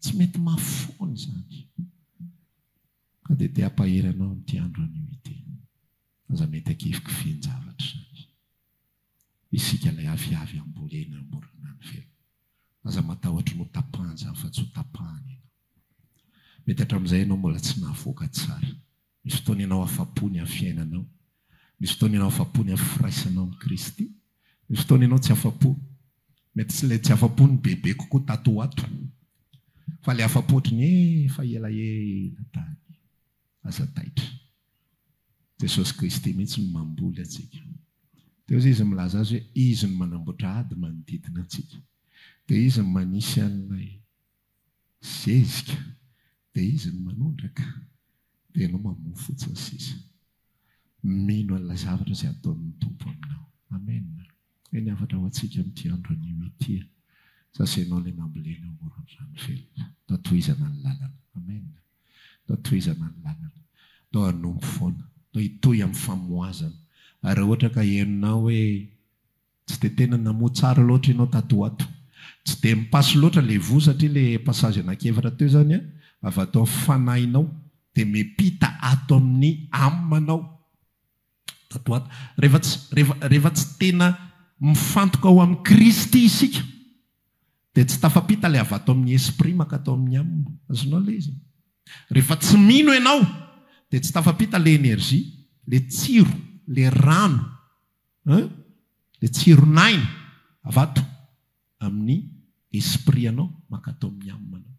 tsy mety mahafoana izany. Ka dia te hampahery anao amin'ity andro anio ity. Aza mety hakivikivian-javatra izany. Isika ilay aviavy hambolena eo ambonin'ny rano velona. Aza matahotra ny ho tapahan-javatra afa-tsy ho tapahana ianao. Mety hatramin'izay ianao mbola tsy nahavoaka tsara. Misy fotoana ianao afa-po ny amin'ny fiainanao. Misy fotoana ianao afa-po ny amin'ny firaisanao amin'i Kristy. Misy fotoana ianao tsy afa-po. Mety tsy ilay tsy afa-po ny bebe kokoa tato ho ato, fa ilay afa-po ohatry ny efa elaela tany. Aza taitra. Jesosy Kristy mihitsy no mamboly antsika. Dia hoy Izy milaza azy hoe Izy no manamboatra ady manodidina antsika. Dia Izy no manisy an'ilay. Zezika, dia izy no manondraka, dia ianao mamoha fotsiny sisa. Mino an'ilay zavatra izay ataon'ny Tompo aminao. Amen. Hay ny hafatra ho antsika amin'ity andro anio ity e! Sasenao ilay nambolena eo amoron'ny rano velona. Ndao tohizana ny lalana. Amen. Ndao tohizana ny lalana. Ndao hanompo foana. Ndao hitohy amin'ny famohazana. Ary raha ohatra ka henonao hoe. Tsy dia tena namoha tsara loatra ianao tato ho ato. Tsy dia mi-passe loatra ilay voa satria ilay passage anankiefatra teo izany an, avy ato amin'ny fanahinao dia miampita ato amin'ny âme-nao tato ho ato. Rehefa tsy, rehefa, rehefa tsy tena mifantoka ao amin'i Kristy isika dia tsy tafampita ilay avy ato amin'ny esprit mankatao amin'ny âme. Azonao ilay izy? Rehefa tsy mino ianao dia tsy tafampita ilay énergie, ilay tsiro, ilay rano. Hein? Dia tsiron' aina avy ato amin' ny esprit anao mankatao amin' ny âme anao.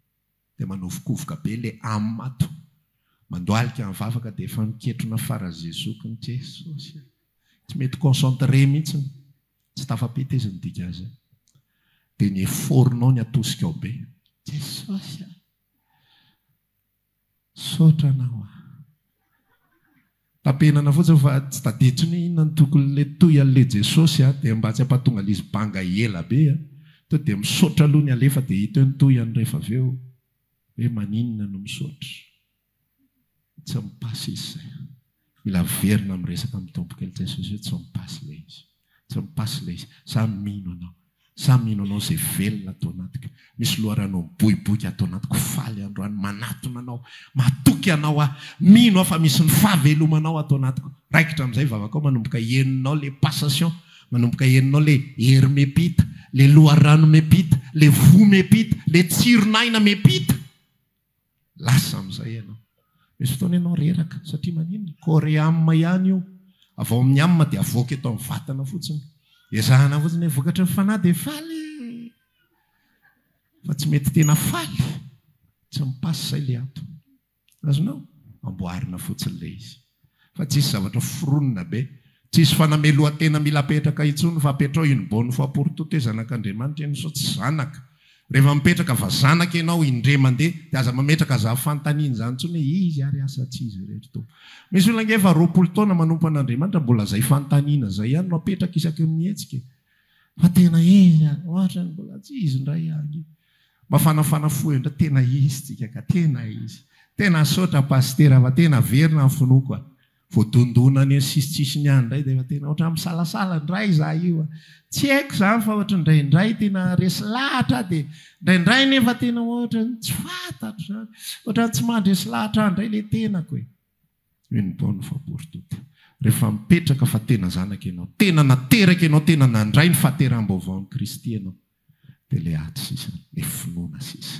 Dia manovokovoka be ilay âme ato. Mandohalika ny vavaka dia efa miketrona fara zezoky ny Jesosy a! Tsy mety concentré mihitsy ny, tsy tafapita izy nidika azy. Dia ny effort nao ny atosikao be. Jesosy a! Misaotra anao a. Tapenana fotsiny fa tsy tadiditro ny inona ny tokony le toy anle Jesosy a, dia mba tsy ampatonga lizy banga ela be a, to dia misaotra aloha ny alefa dia hita eo ny toy any rehefa avy eo hoe maninona no misaotra. Tsy mi-passe izy zay. Mila averina amin'ny resaka midoboka ilay Jesosy hoe tsy mi-passe ilay izy. Tsy mi-passe ilay izy. Za mino anao. Za mino anao izay velona ato anatiko. Misy loharano miboiboika ato anatiko. Faly androany manatona anao. Matoky anao aho. Mino aho fa misy ny fahavelomanao ato anatiko. Raikitra amin'izay vavakao manomboka henonao ilay passation. Manomboka henonao ilay hery miampita. Ilay loharano miampita. Ilay voa miampita. Ilay tsiron'aina miampita. Lasa amin'izay ianao. Misy fotoana ianao reraka satria maninona? Corée âme ihany io. Avy ao amin'ny âme dia avoaka eto amin'ny vatana fotsiny. Ezahana fotsiny hoe vokatry ny fanahy dia faly fa tsy mety tena faly. Tsy mi-passe ilay ato. Azonao? Amboarina fotsiny ilay izy. Fa tsisy zavatra foronina be. Tsisy fanamelohan-tena mila apetraka intsony fa apetrao in buon fo aporto te zanak'Andriamanitra ianao sao tsy zanaka. Rehefa mipetraka fa zanaka ianao indre mandeha dia aza mametraka za fantaniana izany intsony hoe izy ary asa tsy izy irery to. Misy olona ange efa roapolo taona manompo an'Andriamanitra mbola zay fantaniana zay ihany no apetraka isaky ny mihetsika e. Fa tena izy izany, ohatra ny mbola tsy izy indray ihany io. Mafanafana fo eo indray, tena izy tsika ka, tena izy. Tena misaotra Pasitera fa tena averina ny finoako a. Voadondona any amin'ny sisintsisiny any indray dia efa tena ohatran'ny misalasala indray izaho io a. Tsy haiko izany fa ohatran'ny indraindray tena resy lahatra aho dia indraindray nefa tena ohatran'ny tsy fantatro izany. Ohatran'ny tsy mandresy lahatra ahy indray ilay tenako e. Toy ny taona fahaboritoto. Rehefa mipetraka fa tena zanaka ianao, tena nateraka ianao, tena nandray ny fahateraham-baovao amin'i Kristy ianao, dia ilay ady sisa, ilay finoana sisa,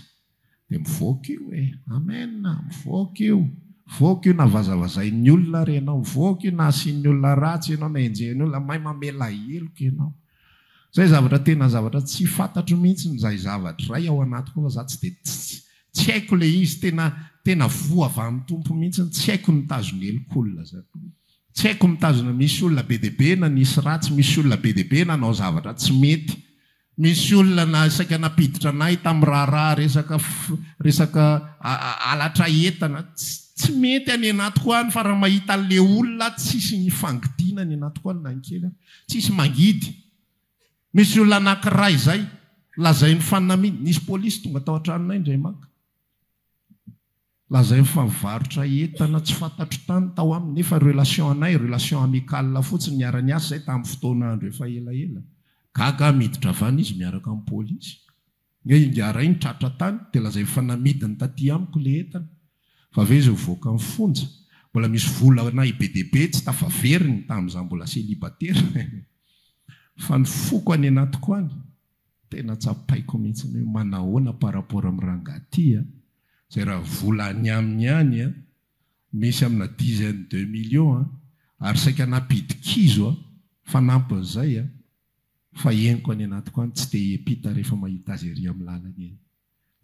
dia mivoaka io e! Amen! Mivoaka io! Mivoaka io na vazavazain'ny olona ary ianao, mivoaka io na asian'ny olona ratsy ianao, na enjehin'ny olona, may mamela heloka ianao. Zay zavatra tena zavatra tsy fantatro mihitsy zay zavatra ray ao anatiko ao fa za tsy de tsy haiko le izy tena tena voa avy any Tompo mihitsy tsy haiko ny mitazona elok'olona zany tsy haiko mitazona misy olona be de be nanisy ratsy misy olona be de be nanao zavatra tsy mety misy olona na saika nampiditra anay tam raharaha resaka resaka alatra entana tsy mety any anatiko any fa raha mahita le olona tsisy ny fangidiana any anatiko any na ny kely ary Tsisy mangidy. Misy olona anankiray zay lazainy fa naminy. Nisy polisy tonga tao an-tranonay indray maka. Lazainy fa mivarotra entana tsy fantatro tany tao aminy nefa relation anay relation amicale fotsiny niara-niasa zay tamin'ny fotoana andro efa elaela. Gaga aho miditra van izy miaraka amin'ny polisy. Nge ingaharay ny tratra tany dia lazaiko fa namidiny taty amiko ilay entana fa ve izao voaka ny fonja mbola misy vola anahy be dia be tsy tafaveriny tamin'ny izaho mbola selibatera fa ny foko any anatiko any tena tsapaiko mihitsy ny hoe manahoana par rapport amin'ny ranga aty a! izay raha vola any aminy any a! misy amina dizaine de millions a! ary saika nampidikizo a! fanampin'izay a! Fa henoko any anatiko any tsy te hiampita rehefa mahita azy ery amin'ny lalana eny.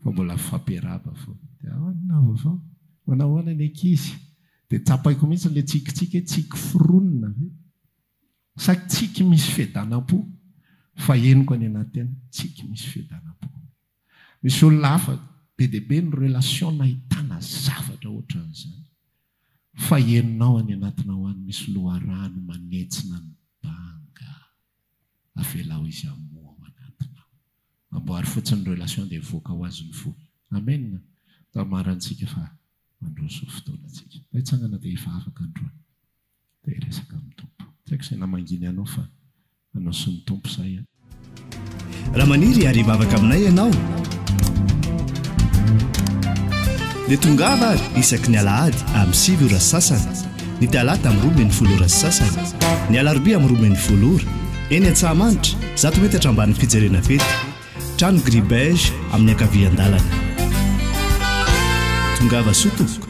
Fa mbola fifampiarahaba foana. Dia ahoana ny nahavaovao fa manao ahoana ny ankizy? Dia tsapaiko mihitsy ilay tsikitsiky hoe tsiky foronina ve? Sa tsiky misy fiadanam-po? Fa henoko any anaty any tsiky misy fiadanam-po. Misy olona hafa be dia be ny relation nahitana zavatra ohatran'izany fa enao any anatinao any misy loharano manetsina ny banga avelao izy hamoa ao anatinao amboary fotsiny ny relation dia hivoaka ho azy ny fo amen tamarantsika fa mandroso fotoana tsika mba hitsangana dia hivavaka androany Dia hiresaka amin'ny Tompo. Tsy haiko izay namangiany anao fa anao sy ny Tompo izay an! Raha maniry ary hivavaka aminay ianao, dia tongava ary isaky ny alahady amin'ny sivy ora sy sasany, ny talata amin'ny roa ambin'ny folo ora sy sasany, ny alarobia amin'ny roa ambin'ny folo ora, eny Antsahamanitra, zato metatra ambanin'ny fijerena fety, trano gris beige amin'ny ankavian-dalana. Tongava soa tompoko.